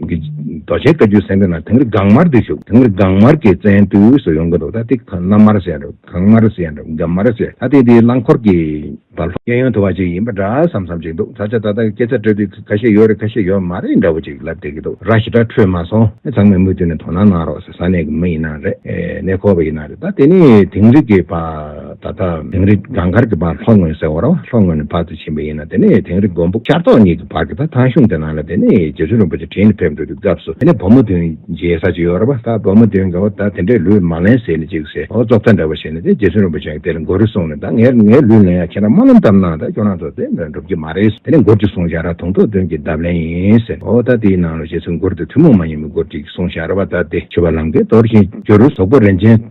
རྡོ་རྗེའི་བཀའ་བརྒྱུད་གསན་དུས་ན་དེང་རི་གངས་དམར་དུ་བཞུགས། དེང་རི་གངས་དམར་གྱི་བཙན་དུས་སུ་ཡོང་གི་འདུག་ད་ཏི་གངས་དམར་ཟེར་ཡང་གངས་དམར་ཟེར་ཡང་འགྲམ་དམར་ཟེར་ད་ཏི་དེའི་རླངས་འཁོར་གྱི་བར་ལྷོ། གཡས་གཡོན་དུ་བ་ཅིག་ཡིན་པ་འདྲ་བསམ་བསམ་ཅིག་འདུག་ད་ཆ་ད་ལྟ་སྐད་ཆ་སྤྲོད་དུས་ཁ་ཤས་ཡོད་རེད་ཁ་ཤས་ཡོད་མ་རེད་འདྲ་བོ་ཅིག་ལབ་བསྡད་ཀྱི་འདུག་ར་ཞི་དྲག་འཕྲོད་མ་སོང་ཨེ་ཚང་མས་མུ་མཐུད་ནས་དོ་སྣང་གནང་རོགས་ཟེར་ས་གནས་ཀྱི་མི་ཡིན་ན་རེད་གནས་སྐོར་བ་ཡིན་ན་རེད་ད་དེ་ནི་དེང་རི་གི་བ། ད་ལྟ་དིང་རི་སྒང་དཀར་གྱི་བར་ལྷོ་ངོས་ཟེར་བ་རོ་ལྷོ་ངོས་ནས་བར་དུ་ཕྱིན་པ་ཡིན་ན་དེ་ནི་དིང་རི་མགོན་པོ་ཤར་ཏོག་གཉིས་ཀྱི་བར་གྱི་བར་ཐང་གཞུང་དེ་ནང་ལ་དེ་ནི་རྗེ་བཙུན་རིན་པོ་ཆེ་དྲིན་ལ་ཕེབས་འགྲོ་དུས་སྐབས་སུ་དེ་ནི་བུ་མོ་བདུན་མཇལ་ས་ཅིག་ཡོད་རེད་པ་ད་བུ་མོ་བདུན་གང་བ་ད་དེ་འདྲའི་ལུས་མ་ལེན་ཟེར་ནས་ཅིག་ཟེར་ཨོ་རྫོགས་ཐ་འདྲ་བ་བྱས་ནས་དེ་རྗེ་བཙུན་རིན་པོ་ཆེ་གིས་དེ་ལ་མགོ་རུལ་གསུངས་ནས་ད་ངས་ངའི་ལུས་ལེན་ཡ་ཁྱེད་རང་སྨོན་ལམ་ཙམ་གནང་ད་ཁྱོད་རང་ཚོ་དེ་འདྲ་འགྲུབ་ཀྱི་མ་རེད་དེ་ནས་མགུར་ཅིག་གསུངས་བཞག་ར་དུང་ཐོག་བདུན་གྱི་འདབ་ལན་ཡིན་ཟེར་ཨོ་ད་དེའི་ནང་ལ་བྱས་ཚུལ་མགུར་དེ་ཐུན་མོང་མ་ཡིན་པའི་མགུར་ཅིག་གསུངས་བཞག་རེད་པ་ད་དེ་ཆོས་པ་ལམ་ཀའི་རྡོར་ཤིང་ཇོ་རུ་ཟོག་པོ་རིན་ཆེན།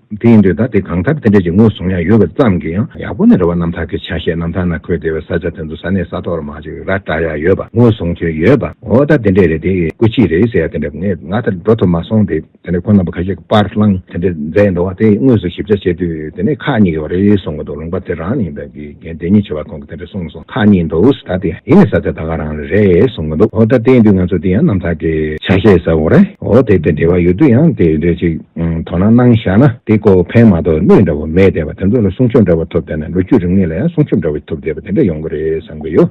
དེ་ཡིན་དུས་ད་ལྟའི་གངས་དཀར་དེ་འདྲས་ཀྱི་ངོས་བཟུང་ཡང་ཡོད་པ་ཙམ་གྱིས་ཡང་ཡག་པོ་ནི་རེད་བ་རྣམ་ཐར་གྱི་ཆ་ཤས་རྣམ་ཐར་ན་འཁོད་བདེ་བའི་ས་ཆ་དེ་ཚོ་ས་གནས་ས་ཐོག་ར་མ་ཅིག་ར་བཀྲ་ཡ་ཡོད་པ་ངོས་བཟུང་ཁྱོད་ཡོད་པ་འོ་ད་དེ་འདྲས་རེད་དེ་སྐུ་གཅིག་རེད་ཟེར་ཡ་དེ་འདྲས་ངས་ང་ད་འགྲོ་ཐུབ་མ་སོང་དེ་དེ་འདྲས་ཁོ་རྣམ་པ་ཁ་ཤས་ཀྱི་པར་བླངས་དེ་འདྲས་མཛད་འདུག་བ་དེ་དངོས་སུ་ཞིབ་ཆ་བྱས་དུས་དེ་ནས་ཁག་གཉིས་ཀྱི་བ་རེད་སོང་གི་འདུག་ལུང་པ་དེ་རང་ཡིན་པས། ངས་འདི་གཉིས་ཆེ་བ་གོང་གི་དེ་འདྲ་གསུངས་སོང་ཐག་ཉེ་འདུག་ད་དེ་ཡིན་ནི་ས་ཆ་ད་ག་རང་རེད་གསུངས་གི་འདུག་འོ་ད་དེ་ཡིན་དུས་ང་ཚོ་དེ་ཡང་རྣམ་ཐར་གྱི་ཆ་ཤས་ཟེར་བ་རེད་འོ་དེ་དེ་འབྲེལ་བ་ཡོད་དུས་ཡང་དེ་འདྲ་ཅིག་དོ་སྣང་གནང་བཞག་ན་དེ་ཀོ་ཕན་མ་གཏོགས་གནོད་འདྲ་བོ་མེད་བསྡད་པ་དེ་ཚོ་ལ་སྲུང་སྐྱོབ་འདྲ་བོ་ཐོབ་བསྡད་ན་ལོ་རྒྱུས་རིག་གནས་ལ་ཡང་སྲུང་སྐྱོབ་འདྲ་བོ་ཐོབ་བསྡད་པ་དེ་འདྲ་ཡོང་གི་རེད་བསམ་གི་ཡོད།